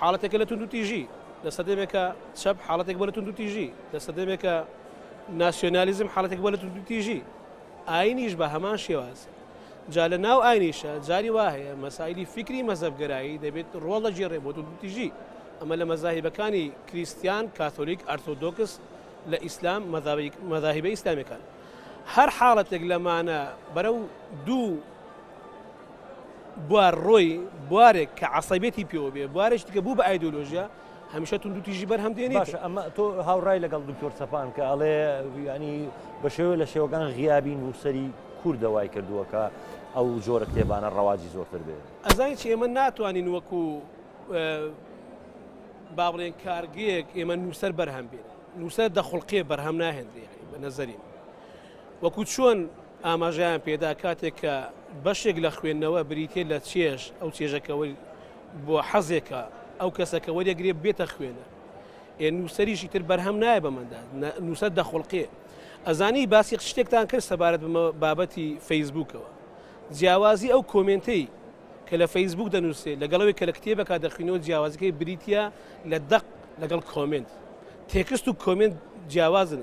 حاڵەتێکە لە توندوتیژی لە سەدەمێکە چەپ حاڵەتێک بە لە تونند تیژی لە سەدەمێکە ناسیۆنالیزم حاڵەتێک بە لە تونند تیژی ئاینیش بە هەمان شێواز جا لە ناو ئاینیشە جاری وا هەیە مەسایلی فیکری مەزەبگەرایی دەبێت ڕۆڵ لە جێڕێ بۆ توتیژی ئەمە لە مەزاهیبەکانی کریسیان کاتۆلیک ئەرتۆدۆکس لە ئیسلام مەذاهیبە ئیسلامیەکان هەر حاڵەتێک لەمانە بەرەو دوو بوار ڕۆی بوارێک کە عسەبێتی پێوە بێ بوارێک دیکە بوو بە ئایدۆلۆژیا هەمیشە توندوتیژی بەرهەم دێنێت باشە ئەمە تۆ هاوڕای لەگەڵ دکتۆر سەپان کە ئەڵێ ینی بە شێوە لە شێوەکان غیابی نووسری کوردە وای کردووە کە ئەو جۆرە کتێبانە ڕەواجی زۆرتر بێت ئەزانین چی ئێمە ناتوانین وەکو با بڵێن کارگەیەک ئێمە نووسەر بەرهەم بێت نووسەر دەخڵقێ بەرهەم ناهێنرێ بە نەزەری وەکو چۆن ئاماژیان پێدا کاتێک کە بەشێک لە خوێندنەوە بریتێ لە چێش ئەو چێژەکەەوەی بۆ حەزێکە ئەو کەسە کە وەریەگرێ بێتە خوێنەر ئێ نووسەریشی تر بەرهەم نایە بەمەدا نووسەر دەخڵقێ ئەزانی باسی شتێکتان کرد سەبارەت بمە بابەتی فەیسبوکەوە جیاوازی ئەو کۆمنتەی کە لە فەیسبوک دەنووسێ لەگەڵەوەی کە لە کتێبەکە دەخینەوە جیاوازەکەی بریتە لە دەق لەگەڵ کۆمنت تێکست و کۆمنت جیاوازن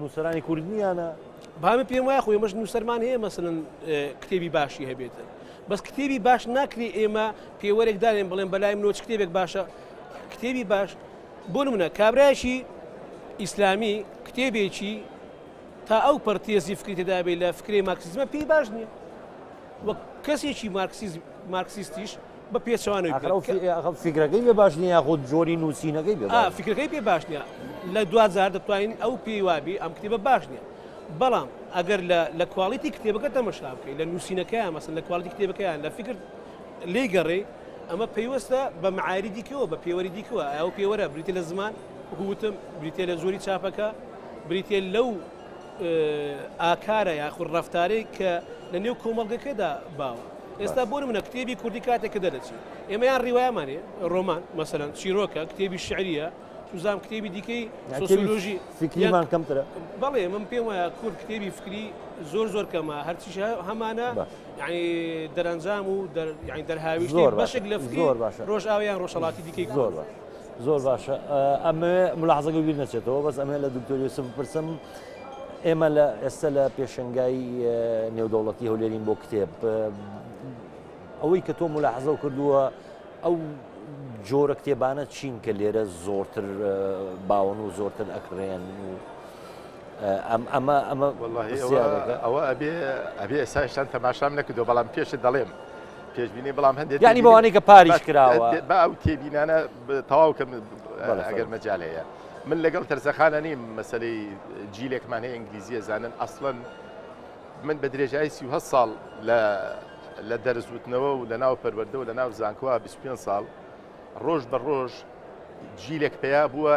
نووسەرانی کورد نییانە بامە پێم وایە خۆی مەش نووسەرمان هەیە مەسنن کتێبی باشی هەبێتە بەس کتێبی باش ناکری ئێمە پێوەرێک دارێن بڵێن بەلای منۆچ کتێبێک باشە کتێبی باش بۆ منە کابراایشی ئیسلامی کتێبێکی تا ئەو پەرتێزی فکریتدا بێ لە فکری ماکسزمە پێی باش نییە وەک کەسێکی مارکسیز مارکسیستیش بە پێچەوانەوەی ئاخر ئەو فی- ئاخر فیکرەکەی بێ باش نییە یاخود جۆری نووسینەکەی بێ باش فکرەکەی پێ باش نییە لە دواجار دەتوانین ئەو پێی وابی ئەم کتێبە باش نییە بەڵام ئەگەر لە لە کواڵیتی کتێبەکە تەمەشا بکەیت لە نووسینەکەیان مەسەن لە کواڵیتی کتێبەکەیان لە فکر لێی گەڕێ ئەمە پەیوەستە بە معایری دیکەوە بە پێوەری دیکەوە ئەو پێوەرە بریتە لە زمان وەکو وتم بریتە لە جۆری چاپەکە بریتە لەو ئاکارە یاخود ڕەفتارێک کە لە نێو کۆمەڵگەکەدا باوە. ئێستا بۆ نمونە کتێبی کوردی کاتێک کە دەرەچی ئێمە یان ڕیوایەمانێ ڕۆمان مەسەلەن چیرۆکە کتێبی شعریە سوزام کتێبی دیکەی سۆسیۆلۆژی فکریمان کەمترە بەڵێ من پێم وایە کورد کتێبی فکری زۆر زۆر کەمە هەرچی هەمانە ینی دەرەنجام و دەرهاویشت بەشێک لە فکری ڕۆژئاویان ڕۆژهڵاتی دیکەی زۆر زۆر باشە ئەمەوێ ملاحزەکە بیر نەچێتەوە بەس ئەمێ لە دکتۆر یوسف بپرسم ئێمە لە ئێستا لە پێشنگایی نێودەوڵەتی هەولێرین بۆ کتێب ئەوەی کە تۆ ملاحزە کردووە ئەو جۆرە کتێبانە چین کە لێرە زۆرتر باون و زۆرتر ئەکرێن و ئەم ئەمە ئەمە ئەوە ئەبێ ئەبێ ئێستا شتان تەماشام نەکردو بەڵام پێشت دەڵێم پێشبینی بەڵام هەندێک یعنی بەوانەی کە پاریش کراوە با ئەو تێبینانە تەواو کەم ئەگەر مەجال هەیە من لەگەڵ تەرزەخانە نیم مەسلەی جیلێکمان هەیە ئینگلیزیە زانن ئەسڵەن من بە درێژایی سی ساڵ لە لە دەرزوتنەوە و لە ناو پەروەەردە و لە ناو زانکووە 25 ساڵ ڕۆژ بە ڕۆژ جیلێک پیا بووە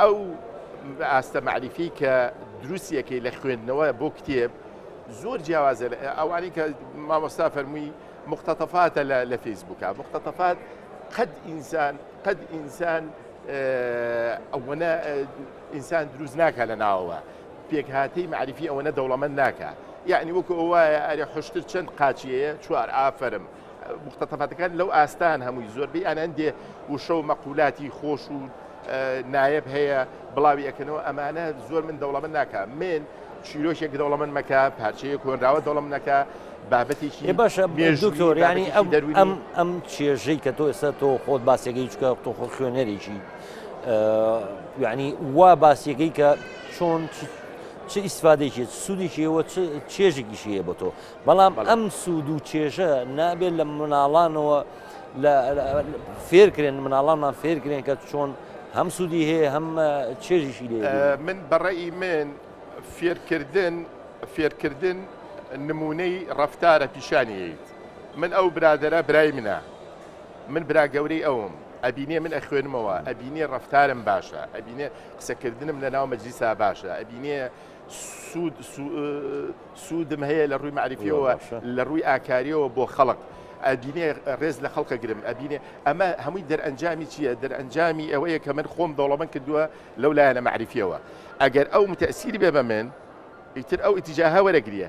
ئەو ئاستە مەعریفی کە دروستیەکەی لە خوێندنەوە بۆ کتێب زۆر جیاوازە ئەوانی کە مامۆستا فەرمووی مختتەفاتە لە فەیسبووکە مختتەفات قەد ئینسان قەد ئینسان ئەوەنە ئینسان دروست ناکە لە ناوەوە پێکهاتەی معریفی ئەوەنە دەوڵەمەند ناکە یعنی وەکو ئەوە ئەرێ حشتر چەند قاچیەیە چوار ئافرم مختتەفاتەکان لەو ئاستان هەمووی زۆربەی ئەنان دێ وشە و مەقولاتی خۆش و نایب هەیە بڵاوی ئەەکەنەوە ئەمانە زۆر من دەوڵەمە ناکە من چیرۆکێک دەوڵەمن مەکە پارچەیە کۆنراوە دەوڵم نەکە بابەتێکی باشە دکتۆر ینی ئەم ئەم چێژەی کە تۆ ئێستا تۆ خۆت باسێکی چکە تۆ خۆ خوێنەرێکی ینی وا باسیەکەی کە چۆن چ ئیسفادێکی سوودێکیەوە چێژێکیشیە بۆ تۆ بەڵام ئەم سوود و چێژە نابێت لە مناڵانەوە فێرکرێن، مناڵانمان فێرکرێن کە چۆن هەم سوودی هەیە هەم چێژیشی لێ بینن. من بە ڕەئی من فێرکردن فێرکردن نموونەی ڕەفتارە پیشانی یەیت من ئەو برادەرە برای منە من برا گەورەی ئەوم ئەبینێ من ئەخوێنمەوە ئەبینێ ڕەفتارم باشە ئەبینێ قسەکردنم لە ناو مەجلیسا باشە ئەبینێ سوود سوودم هەیە لە ڕووی مەعریفیەوە لە ڕووی ئاکاریەوە بۆ خەڵق. ئەبینێ ڕێز لە خەڵکە گرم ئەبینێ ئەمە هەمووی دەرئەنجامی چییە دەرئەنجامی ئەوەیە کە من خۆم دەوڵەمەند کردووە لەو لایەنە مەعریفیەوە ئەگەر ئەو متەسیری بێ بە من ئیتر ئەو ئیتیجاهە وەرەگریە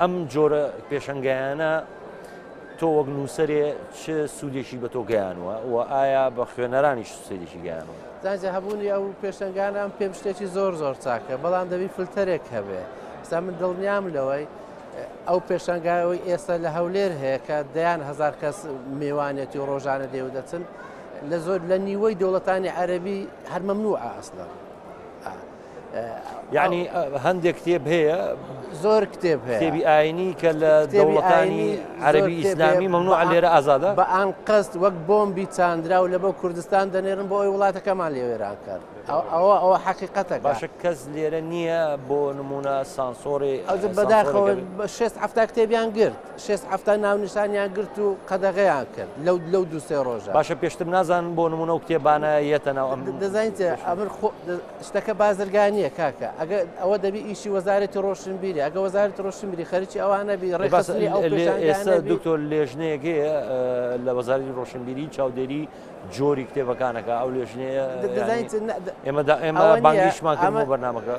ئەم جۆرە پێشەنگایانە تۆ وەک نووسەرێ چ سوودێکی بە تۆ گەیانوە و ئایا بە خوێنەرانیش سوودێکی گەیانوە زانجە هەبوونی ئەو پێشەنگانام پێم شتێکی زۆر زۆر چاکە بەڵام دەبی فلتەرێک هەبێ ستا من دڵنیام لەوەی ئەو پێشەنگایەوەی ئێستا لە هەولێر هەیە کە دەیان هزار کەس میوانێتی و ڕۆژانە دێو دەچن لە زۆر لە نیوەی دەوڵەتانی عەربی هەرمەمنوع ئاسڵە یعنی هەندێک کتێب هەیە زۆر کتێب کتێبی ئاینی کە لە دەوڵەکانی عەربی ئیسلامی مەمنوع لێرە ئازادە بە ئان قەست وەک بۆمبی چاندرا و لە بۆ کوردستان دەنێرن بۆ ئەوی وڵاتەکەمان لێ وێران کرد ئەوە ئەوە حەقیقەتە باشە کەس لێرە نییە بۆ نمونە سانسۆری ئەو بەداخەوە بە 6 هەفتا کتێبیان گرت 6 هەفتا ناونیشانیان گرت و قەدەغەیان کرد لەو لەو دوسێ ڕۆژە باشە پێشتر نازان بۆ نمونە و کتێبانە یەتە ناو ئەم دەزانیت ئەمر شتەکە بازرگانیە کاکە ئەگە ئەوە دەبی ئیشی وەزارەتی ڕۆشنبیری ئەگە وەزارەتی ڕۆشنبیری خەرکی ئەوانە بی ڕێباسی ئەو ئێستا دکتۆر لێژنەیەک هەیە لە وەزاری ڕۆشنبیری چاودێری جۆری کتێبەکانەکە ئەو لێژنەیە ئێمە ئێمە بانگیشمان ئەمە بەرنمەکە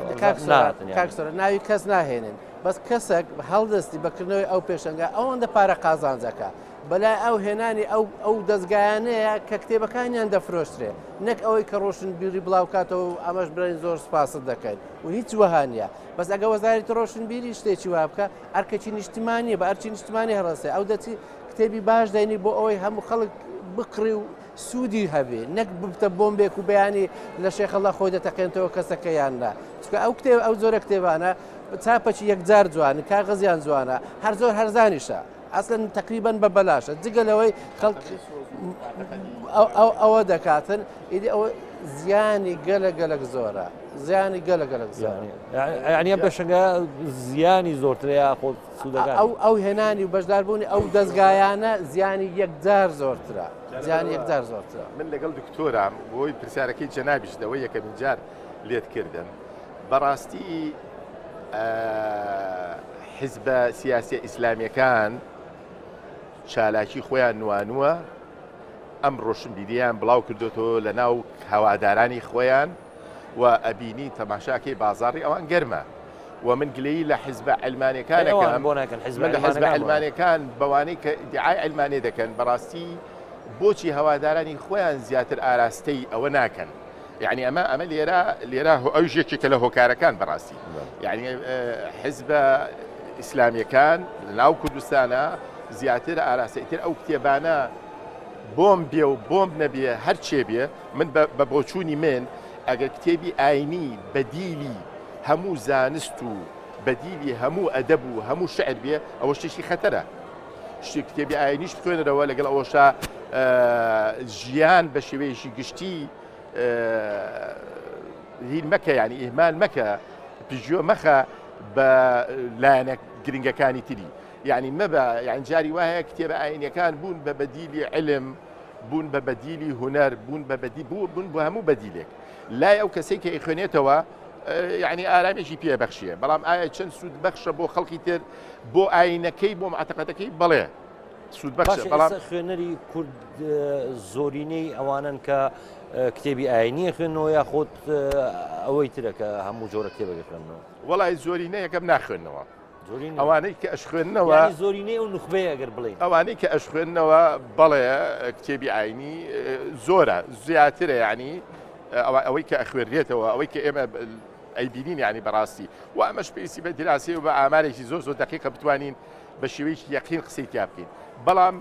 کاکسەر ناوی کەس ناهێنن بەس کەسێک هەڵدەستی بەکردنەوەی ئەو پێشنگە ئەوەندە پارە قازانجەکە بەلای ئەو هێنانی ئەو ئەو دەزگایانەیە کە کتێبەکانیان دەفرۆشترێ نەک ئەوەی کە ڕۆشن بیری بڵاوکاتەوە و ئەمەش برای زۆر سپاست دەکەین و هیچ وەهانە بەس ئەگە وەزاری ڕۆشن بیری شتێکی وا بکە ئەرکەکی نیشتمانی بە ئەرچی نیشتمانی هەڕسێ ئەو دەچی کتێبی باش دەینی بۆ ئەوەی هەموو خەڵک بکڕی و سوودی هەبێ نەک ببتە بۆمبێک و بەیانی لە شێخەڵە خۆی دەتەقێنتەوە کەسەکە یاندا چکە ئەو کتێب ئەو زۆرە کتێبانە چاپەکی یەکجار جوان کاغزیان جوانە هەر زۆر هەرزانیشە ئەسلەن تەقریبەن بە بەلاشە جگە لەوەی خەڵک ئەوە دەکاتن ئیدی ئەوە زیانی گەلە گەلک زۆرە زیانی گەلە گەلک زیانی ئەنی ئەم پێشنگە زیانی زۆرتر یاخۆ سوودەکە ئەو ئەو هێنانی و بەشداربوونی ئەو دەستگایانە زیانی یەکجار زۆرترە زیانی یەکجار زۆرترە من لەگەڵ دکتۆرام بۆی پرسیارەکەی جەنابیش دەوەی یەکەمین جار لێت کردن بەڕاستی حزبە سیاسیە ئیسلامیەکان چالاکی خۆیان نوانوە، ئەم ڕۆشنبیریان بڵاو کردوەوە لە ناو هەوادارانی خۆیان و ئەبینی تەماشاکەی بازاڕی ئەوان گەرمە و من گلەیی لە حزبە علمانەکانەکان بۆ ناکەن حزب حزب علمانەکان بەوانەی کە دیعای علمانێ دەکەن بەڕاستی بۆچی هەوادارانی خۆیان زیاتر ئاراستەی ئەوە ناکەن یەعنی ئەمە ئەمە لێرە لێرە ئەویش یەکێکە لە هۆکارەکان بەڕاستی یعنی حزبە ئیسلامیەکان ناو کوردستانە زیاتر ئاراستەیتر ئەو کتێبانە بۆم بێ و بۆم نەبێ هەرچێ بێ من بە بۆچوونی من ئەگەر کتێبی ئاینی بەدیلی هەموو زانست و بەدیلی هەموو ئەدەب و هەموو شعر بێ ئەوە شتێکی خەتەرە شتی کتێبی ئاینیش بخوێنەرەوە لەگەڵ ئەوەشە ژیان بە شێوەیەشی گشتی هیل مەکە یانی ئیهمال مەکە پژیۆ مەخە بە لایەنە گرنگەکانی تری یعنی مەبە یان جاری وایە کتێبە ئاینەکان بوون بە بەدیلی علم بوون بە بەدیلی هوەر بوون بە بەدی بوو بوون بۆ هەموو بەدیلێک لای ئەو کەسێک کە ئیخوێنێتەوە یعنی ئارامێکی پێ بەخشیە بەڵام ئایا چەند سوود بەخشە بۆ خەڵکی تر بۆ ئاینەکەی بۆ معتەقەتەکەی بڵێ سوودبەخشە بەڵام خوێنەری کورد زۆرینەی ئەوانن کە کتێبی ئاینیە خوێنەوە یا خۆت ئەوەی ترەکە هەموو جۆرە کتێبەکە خوێنەوە وڵی زۆرینە یەکەم ناخوێنەوە ئەوانەی کە ئەش خوێندنەوە زۆرینەی ئەو نخبێ ئەگەر بڵێ ئەوانەی کە ئەش خوێندنەوە بەڵێ کتێبی ئاینی زۆرە زیاترە ینی ئەوەی کە ئەخوێنرێتەوە ئەوەی کە ئێمە ئەیبینین ینی بەڕاستی و ئەمەش پێویستی بە دراسی و بە ئامارێکی زۆر زۆر دقیقە بتوانین بە شێوەیەکی یەقین قسەی تیا بکەین بەڵام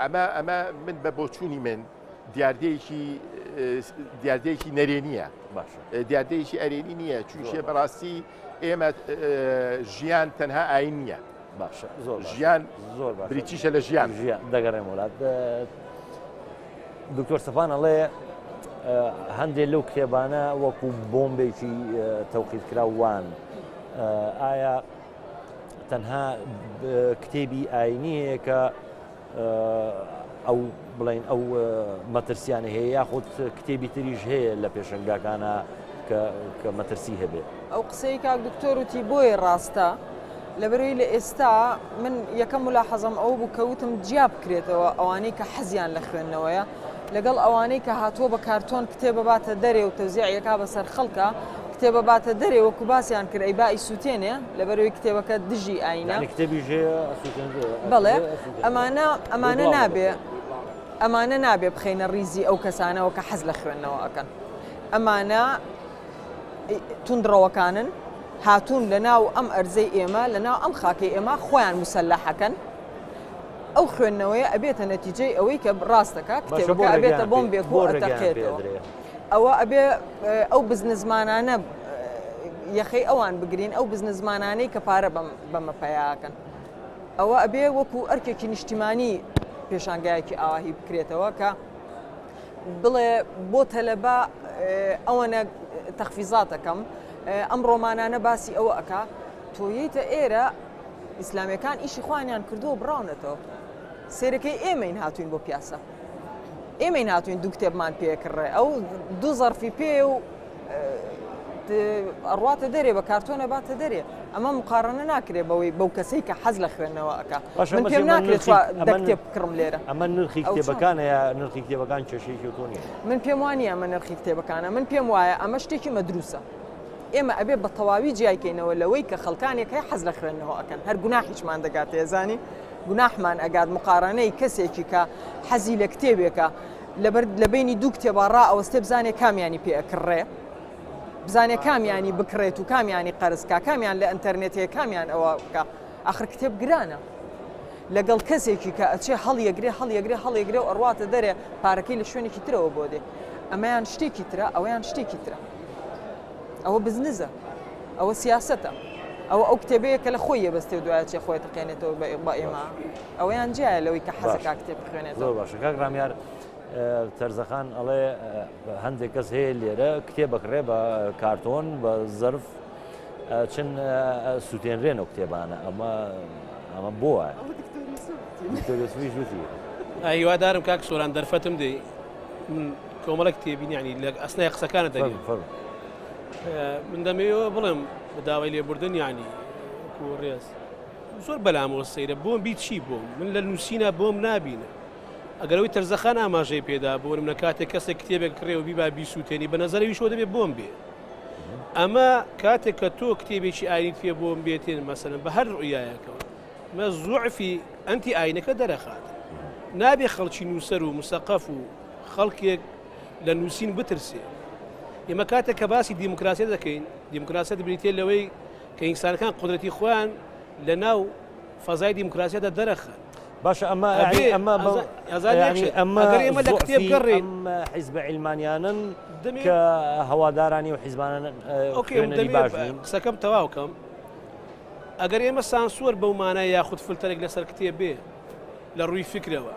ئەمە ئەمە من بە بۆچوونی من دیاردەیەکی دیاردەیەکی نەرێنیە دیاردەیەکی ئەرێنی نییە چونشێ بەڕاستی ئێمە ژیان تەنها ئاین نییە باشە زۆر ژیان زۆر بریتیشە لە ژیان ژیان دەگەڕێن وڵات دکتۆر سەفان ئەڵێ هەندێک لەو کتێبانە وەکو بۆمبێکی تەوقیت کرا وان ئایا تەنها کتێبی ئاینی هەیە کە ئەو بڵین ئەو مەترسیانە هەیە یاخود کتێبی تریش هەیە لە پێشنگاکانە کە مەترسی هەبێت ئەو قسەی کاک دکتۆر وتی بۆی ڕاستە لەبەروی لە ئێستا من یەکەم ولا حەزم ئەو بوو کەوتم جیا بکرێتەوە ئەوانەی کە حەزیان لە خوێندنەوەیە لەگەڵ ئەوانەی کە هاتووە بە کارتۆن کتێبە باتە دەرێ و تەوزیعەکە بەسەر خەڵکە کتێبە باتە دەرێ وەکو باسیان کرد ئەی با ئیسوتێنێ لەبەروی کتێبەکە دژی ئاینە بڵێ ئەمانە ئەمانە نابێ ئەمانە نابێ بخینە ریزی ئەو کەسانەوە کە حەز لە خوێندنەوە ئەەکەن ئەمانە تونندڕەوەکانن هاتوون لە ناو ئەم ئەرزەی ئێمە لە ناو ئەم خاکەی ئێمە خۆیان مسللەحەکەن ئەو خوێندنەوەیە ئەبێتە نەتیجەی ئەوەی کە ڕاستەکە کتێبەکە ئەبێتە بۆم بێکۆ دەقێتەوە. ئەوە ئەبێ ئەو بزنسمانانە یەخەی ئەوان بگرین ئەو بزنسمانانەی کە پارە بەمە پەیاکەن ئەوە ئەبێ وەکو ئەرکێکی نیشتیمانی پێشانگایەکی ئاواهی بکرێتەوە کە بڵێ بۆ تەلەبا ئەوەنە تەخفیزاتەکەم ئەم ڕۆمانانە باسی ئەوە ئەک تۆیتە ئێرە ئیسلامیەکان ئیشی خوانیان کردووە بڕاونەتەوە سەیرەکەی ئێمەین هاتوین بۆ پیاسە ئێمەین هاتوین دوو کتێبمان پێکڕێ ئەو دوو زەرفی پێ و ئەڕاتە دەرێ بە کارتۆنە باتە دەرێ ئەمە مقارنە ناکرێ بەوەی بەو کەسەی کە حەز لە خوێندنەوە ئەک پێم ناکرێت کتێب بکڕم لێرە ئەمە نرخی کتێبەکانە نرخی کتێبەکان کێشێکی تۆنی من پێم وانی ئەمە نرخی کتێبەکانە من پێم وایە ئەمە شتێکی مەدروسە ئێمە ئەبێ بە تەواوی جیایکەینەوە لەوەی کە خەڵکانێک هەیە حەز لە خوێندنەوە ئەەکەن هەر گوناحیشمان دەگاتێزانی گوناحمان ئەگات مقارەنەی کەسێکی کە حەزی لە کتێبێکە لەبەر لە بینی دوو کتێبا ڕا ئەوەستێ بزانێ کامیانی پێ ئەکڕێ بزانێ کامیانی بکرێت و کامیانی قەرزکە کامیان لە ئەتەرنێت هەیە کامیان ئەوە بکە ئاخر کتێب گرانە لەگەڵ کەسێکی کە ئەچێ هەڵیەگرێ هەڵیەگرێ هەڵیەگرێ و ئەڕاتە دەرێ پارەکەی لە شوێنێکی ترەوە بۆ دێ ئەمەیان شتێکی ترە ئەویان شتێکی ترە ئەوە بزنزە، ئەوە سیاسەتە، ئەوە ئەو کتێبەیە کە لە خۆی یەبەستێ و دوایە چێ خۆی تەقێنێتەوە بە ئێ بە ئێمە. ئەوەیان جیایە لەوەی کە حەزە کا کتێب بخوێنێتەوە. زۆر باشە کاک ڕامیار تەرزەخان ئەڵێ هەندێک کەس هەیە لێرە کتێ بەکڕێ بە کارتۆن بە زرف چن سووتێنرێن و کتێبانە ئەمە ئەمە بۆ وایە هیوادارم کاک سۆران دەرفەتم دی من کۆمەڵێک تێبینیانی لە ئەسنای قسەکانە دەنی من دەمەوە بڵێم داوای لێبوردن ینی ڕێز زۆر بەلامەوە سەیرە بۆم بیت چی بووم من لە نووسینە بۆم نبینە ئەگەرەوەی تەرزەخان ئاماژەی پێدا بۆن منە کاتێک کەسێک کتێبێک کڕێەوە بیبا بیسووتێنی بە نظری شۆ دەبێ بۆم بێ ئەمە کاتێک کە تۆ کتێبێکی ئاینیت پێ بۆم بێتێن مەسەن بە هەر ڕویایەکەوە مە زوعفی ئەنتی ئاینەکە دەرەخات نابێ خەڵکی نووسەر و مسەقەف و خەڵکێک لە نووسین بترسێ. ئێمە کاتێک کە باسی دیموکراسیەت دەکەین، دیموکراسیەت بریتیە لەوەی کە ئینسانەکان قودرەتی خۆیان لە ناو فەزای دیموکراسیەتدا دەرەخەن. باشە ئەمە ئەمە ئەمە ئەمە لە کتێب گەڕێن حیزبە عیلمانیانن کە هەوادارانی و حیزبانن قسەکەم تەواوکەم ئەگەر ئێمە سانسوەر بەو مانای یاخود فلتەرێک لەسەر کتێب بێ لە ڕووی فکرەوە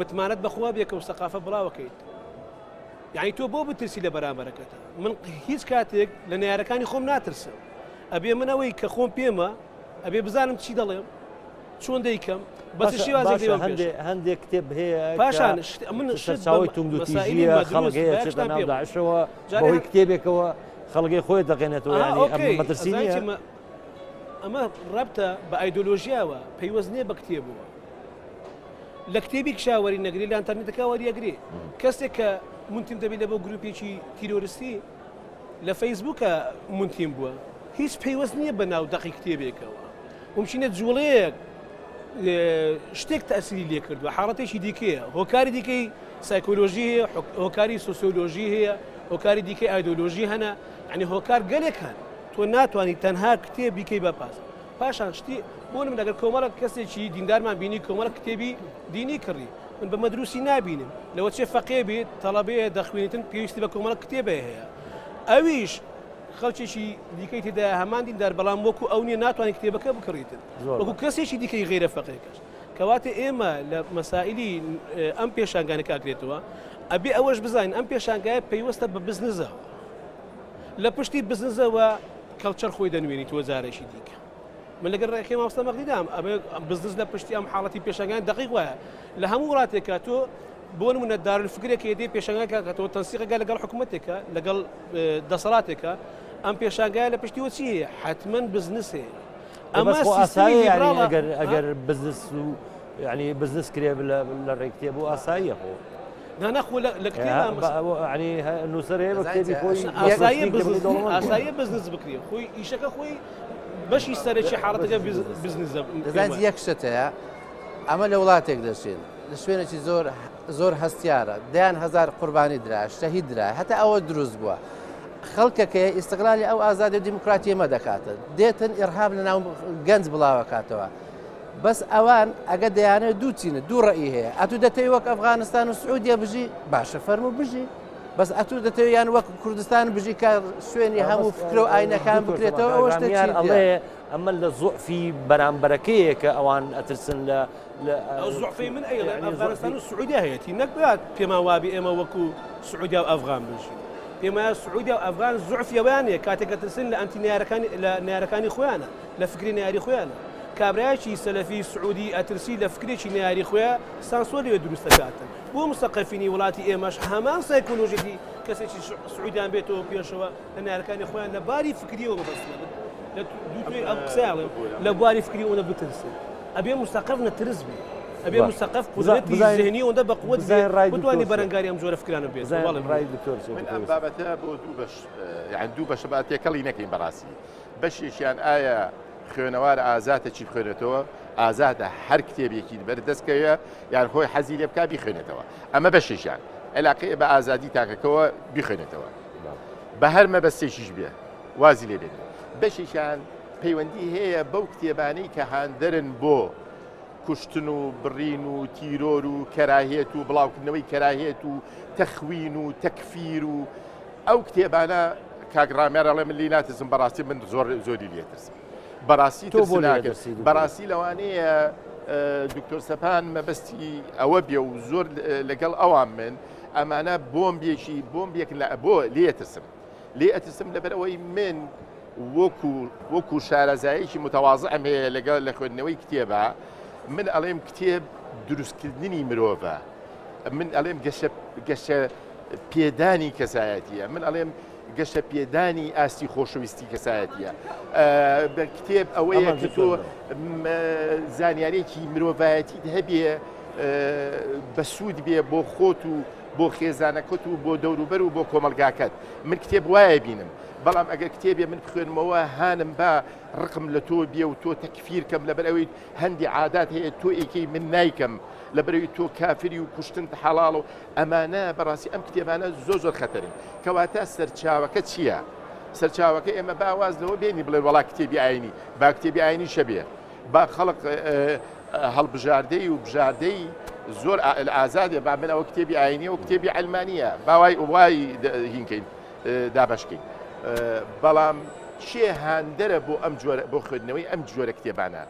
متمانەت بەخوا بێ کە و سەقافە بڵاوەکەیت یعنی تۆ بۆ بترسی لە بەرامبەرەکەتە من هیچ کاتێک لە نارەکانی خۆم ناترسم ئەبێ من ئەوەی کە خۆم پێمە ئەبێ بزانم چی دەڵێم چۆن دەیکەم بەس شێوازی هەندێک کتێب هەیە پاشان من شەوەی توندوتیژی خەڵگەیەشەوە جاوی کتێبێکەوە خەڵگەی خۆی دەقێنێتەوە مەترسی ئەمە ڕەبتە بە ئایدۆلۆژیاوە پەیوەست نییە بە کتێبەوە لە کتێبی کشاوەری نەگری لە ئەنتەرنێتەکە وەریەگری کەسێک کە منتیم دەبی لە بۆ گروپێکی تیرۆرستی لە فەیسبووکە منتیم بووە هیچ پەیوەست نییە بە ناو دەقی کتێبێکەوە ممچینە جوڵەیەک شتێک تەسیری لێ کردووە حاڵەتێکی دیکەیە هۆکاری دیکەی سایکۆلۆژی هەیە هۆکاری سوسیۆلۆژی هەیە هۆکاری دیکەی ئایدۆلۆژی هەنە ئەنی هۆکار گەلێک هەن تۆ ناتوانانی تەنها کتێبیکەی بەپاس پاشان شتی بۆ نمونە گەر کۆمەڵەک کەسێکی دیندارمان بینی کۆمەڵەک کتێبی دینی کڕی من بە مەدروسی نابینم لەوە چێ فەقێ بێت تەڵەبەیە دەخوێنیتن پێویستی بە کۆمەڵەک کتێبێ هەیە ئەویش خەڵکێکی دیکەی تێدا هەمان دیندار بەڵام وەکو ئەو نیە ناتوانانی کتێبەکە بکڕیتن وەکو کەسێکی دیکەی غیرە فەقێکەش کەواتە ئێمە لە مەسائلی ئەم پێشانگانە کاکرێتەوە ئەبێ ئەوەش بزانین ئەم پێشانگایە پەیوەستە بە بزنزەوە لە پشتی بزنزەوە کەڵچەر خۆی دەنوێنیتەوە جارێکی دیکە. من لەگەل رای خێ مامۆستا مەغدی دام ئەبێ بزنس لە پشتی ئەم حاڵەتی پێشەنگان دەقیق وایە لە هەموو وڵاتێکە تۆ بۆ نمونە دارولفکرێک یدی پێشەنگەکە کە تۆ تەنسیقەکە لەگەڵ حکوومەتێکە لەگەڵ دەسەڵاتێکە ئەم پێشانگایە لە پشتی وچی هەیە حتمما بزنس هەیە ئەمە ئەگەر بزنس و یانی بزنس کرێ لە ڕێ کتێب و ئاساییە خۆ نانا خۆ لە ئاسایی بزنس بکرێ خۆی ئیشەکە خۆی بەشی سەرەکی حاڵەتەکە بزنس دەزانیت یەک شتەیە ئەمە لە وڵاتێک دەشێن لە شوێنێکی زۆر زۆر هەستیارە دەیان هزار قوربانی درا شەهید درا هەتا ئەوە دروست بووە خەڵکەکەی ئیسقلالی ئەو ئازادی دیموکراتیمە دەکاتن دێتن ئێرهاب لە ناو گەنج بڵاوەکاتەوە بەس ئەوان ئەگە دەیانەوێت دوو چینە دوو ڕێی هەیە ئەتو دەتەوی وەک ئەفغانستان و سعودیە بژی باشە فەرمو بژی بەس ئەتو دەتەوێت یان وەک کوردستان بژی کە شوێنی هەموو فکرە و ئاینەکان بکرێتەوە ئەوە شتێک چی ئەڵێ ئەمە لە زوعفی بەرامبەرەکەیە کە ئەوان ئەترسن لە زوعفی من ئەیڵێن ئەفغانستان و سعودی هەیەتی نەکبات پێما وابی ئێمە وەکو سعودیا و ئەفغان بژین پێما سعودیا و ئەفغان زوعفیەوەیان نیە کاتێکە ترسن لە ئەنتی نارەکانی لە نارەکانی خۆیانە لە فکری نەیاری خۆیانە. کابرایەکی سەلەفی سعودی ئەترسی لە فکرێکی نەیاری خۆیا سانسۆر لەوێ دروست دەکاتن. بۆ موسەقەفینی وڵاتی ئێمەش هەمان سایکۆلۆژیەتی کەسێکی سعودیان بێتەوە پێشەوە لە نەیارەکانی خۆیان لە باری فکریەوە مەبەستمە بن لە دووتوێی ئەم قسەیان بڵێم لە بواری فکری ئەوەندە بترسن ئەبێ موسەقەف نەترس بێ ئەبێ موسەقەف قودرەتی زهنی ئەوەندە بە قوت بێ بتوانی بەرەنگاری ئەم جۆرە فکرانە بێ زەواڵی ڕای دکتۆر من ئەم بابەتە بۆ دوو بەش یان دوو بەشە با تێکەڵی نەکەین بەڕاستی بەشێکیان ئایا خوێنەوار ئازاتە چی بخوێنێتەوە؟ ئازادە هەر کتێبێکی بەر دەست کەوێ یان خۆی حەزی لێ بکا بیخوێنێتەوە. ئەمە بەشێکیان عێلاقەیە بە ئازادی تاکەکەوە بیخوێنێتەوە. بە هەر مەبەستێکیش بێ وازی لێ بێنێ. بەشێکیان پەیوەندی هەیە بەو کتێبانەی کە هاندەرن بۆ کوشتن و بڕین و تیرۆر و کەراهیەت و بڵاوکردنەوەی کەراهیەت و تەخوین و تەکفیر و ئەو کتێبانە کاک ڕامیار ئەڵێ من لی ناترسم بەڕاستی من زۆر زۆری لێترسم بەڕاستی تۆ بۆ ناگەسی بەڕاستی لەوانەیە دکتۆر سەپان مەبەستی ئەوە بێ و زۆر لەگەڵ ئەوان من ئەمانە بۆم بێکی بۆم بێک لە بۆ لێترسم لێ ئەترسم لەبەرەوەی من وەکو وەکو شارەزایەکی متەوازە ئەم هەیە لەگەڵ لە خوێندنەوەی کتێبە من ئەڵێم کتێب دروستکردنی مرۆڤە من ئەڵێم گەشە پێدانی کەسایەتیە من ئەڵێم گەشە پێدانی ئاستی خۆشەویستی کەسایەتە بە کتێب ئەوەیە کە تۆ زانیارێکی مرۆڤایەتی هەبێ بە سوود بێ بۆ خۆت و بۆ خێزانەکەت و بۆ دەوروبەر و بۆ کۆمەلگاکەت من کتێب وایە بینم بەڵام ئەگەر کتێبێ من بخوێنمەوە هانم بە ڕقم لە تۆ بێ و تۆ تەکفیرکەم لەبەر ئەوەی هەندی عادات هەیە تۆ ئێکەی من نیکەم لەبەرەوەی تۆ کافری و کوشتن حەڵاڵ و ئەمانە بەڕاستی ئەم کتێبانە زۆر زۆر خەتەرن کەواتە سەرچاوەکە چییە؟ سەرچاوەکە ئێمە با واز لەوە بێنی بڵێ وڵا کتێبی ئاینی با کتێبی ئاینی شەبێ با خەڵق هەڵبژاردەی و بژاردەی زۆر ئازادێ با من ئەوە کتێبی ئاینی و کتێبی ئەلمانە باوای وای هینکەین دابشکین بەڵام چێ هاندەرە بۆ ئەم جۆرە بۆ خوێندنەوەی ئەم جۆرە کتێبانە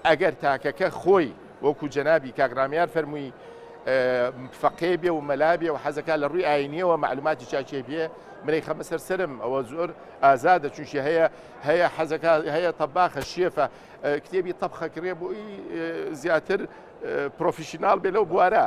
ئەگەر تاکەکە خۆی وەکو جەنابی کاک ڕامیار فەرمووی فەقێ بێ و مەلا بێ و حەزەکە لە ڕووی ئاینیەوە معلوماتی چاچێ بێ منەی خەمە سەر سرم ئەوە زۆر ئازادە چونشی هەیە هەیە حەزەکە هەیە تەباخە شێفە کتێبی تەبخەکرێ بۆی زیاتر پرۆفیشنناڵ بێ لەو بوارە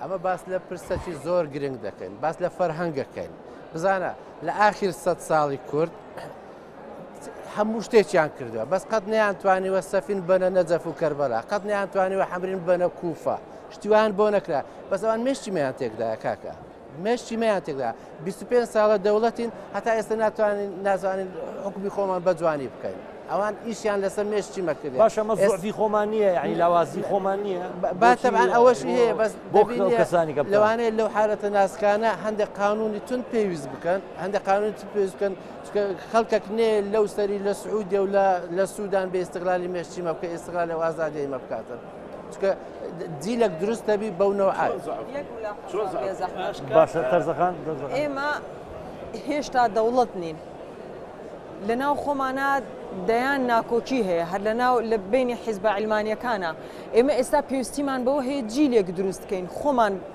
ئەمە باس لە پرسەکی زۆر گرنگ دەکەین باس لە فەرهەنگەکەین بزانە لە ئاخیر سە ساڵی کورد هەموو شتێکیان کردووە بەس قەت نیانتوانیوە سەفین بەنە نەجەف و کەربەلا قەت نیانتوانیوە حەمرین بەنە کوفە شتیوان بۆ نەکرا بەسەوان مشتیمیان تێکدا کاکە مشتیمیان تێکدا بیست و پێنج ساڵە دەوڵەتین هەتا ئێستا ناتوانین نازانین حکومی خۆمان بەجوانی بکەین ئەوان ئیشیان لەسەر مێشتی مەکرد باشە مەزۆفی خۆمان نییە یعنی لاوازی خۆمان نییە باتەبان ئەوەش هەیە بەس بۆ کەسانی کە لەوانەیە لەو حالەتە ناسکانە هەندێک قانونی تون پێویست بکەن هەندێک قانونی تون پێویست بکەن خەڵکەک نێ لەو سەری لە سعودی و لە سوودان بێ استقلالی مێشتی مەبکە استقلال و ئازادی مەبکاتن چکە جیلەک دروست دەبی بەو نەوە باشە تەرزەکان ئێمە هێشتا دەوڵەت نین لە ناو خۆمانە دەیان ناکۆکی هەیە هەر لە ناو لە بینی حیزبە ئەلمانیەکانە ئێمە ئێستا پێویستیمان بەوە هەیە جیلێک دروستکەین خۆمان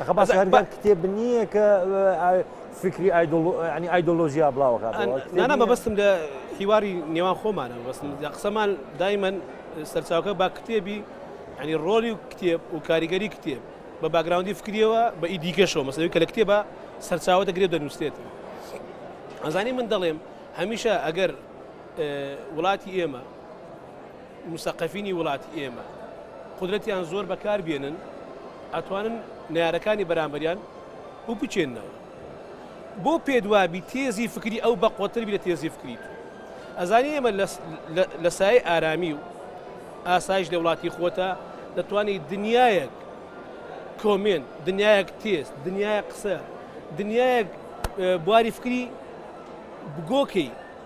ئەخە باس هەرگەر کتێب نییە کە فکری ئەنی ئایدۆلۆژیا بڵاوەکە نانا مەبەستم لە هیواری نێوان خۆمانە بەستم قسەمان دایمەن سەرچاوکە با کتێبی ئەنی ڕۆلی و کتێب و کاریگەری کتێب بە باگراوندی فکریەوە بە ئی دیکەشەوە مەسەوی کە لە کتێبە سەرچاوە دەگرێ دەنووسێت ئەزانی من دەڵێم هەمیشە ئەگەر وڵاتی ئێمە موسەقەفینی وڵاتی ئێمە قودرەتیان زۆر بەکار بێنن ئەتوانن نەیارەکانی بەرامبەریان بپچێنەوە بۆ پێدوابی تێزی فکری ئەو بەقوەتر بی لە تێزی فکری تو ئەزانی ئێمە لە سای ئارامی و ئاسایش لە وڵاتی خۆتە دەتوانی دنیایەک کۆمێن دنیایەک تێز دنیای قسە دنیایەک بواری فکری بگۆکەی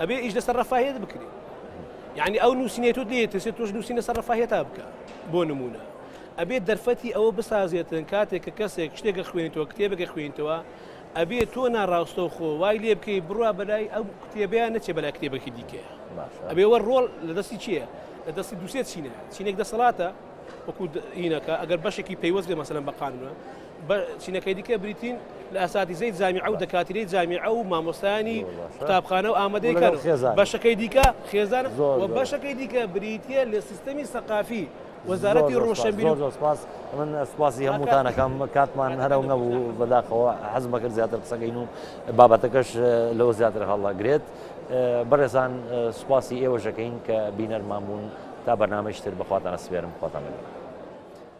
ئەبێ ئیش لەسەر ڕەفاهێت بکرێ یعنی ئەو نووسینێت و لێ ترسێت تۆش نووسین لەسەر ڕەفاهێت تا بکە بۆ نمونە ئەبێت دەرفەتی ئەوە بسازێتن کاتێک کە کەسێک شتێکە خوێنیتەوە کتێبەکە خوێنیتەوە ئەبێت تۆ ناڕاستە خۆ وای لێ بکەی بڕوا بەلای ئەو کتێبیان نەچێ بەلای کتێبەکی دیکەیە ئەبێوە ڕۆڵ لە دەستی چییە لە دەستی دووسێت چینە چینێک دەسەڵاتە وەکو هینەکە ئەگەر بەشێکی پەیوەست لێ مەسەن بەقانە بە چینەکەی دیکە بریتین لە ئەساتیزەی جامیعە و دەکاتیرەی جامیعە و مامۆستایانی قوتابخانە و ئامادەی کار و خێزان بەشەکەی دیکە خێزان و بەشەکەی دیکە بریتییە لە سیستەمی سەقافی وەزارەتی ڕۆشنبیر زۆر زۆر سپاس من سپاسی هەمووتانەکەم کاتمان هەرە و نەبوو بەداخەوە حەزمە کرد زیاتر قسەکەین و بابەتەکەش لەوە زیاتر هەڵدەگرێت بەڕێزان سپاسی ئێوەشەکەین کە بینەرمان بوون تا بەرنمەشتر بەخواتانە سپێرم خۆتان لەگەڵ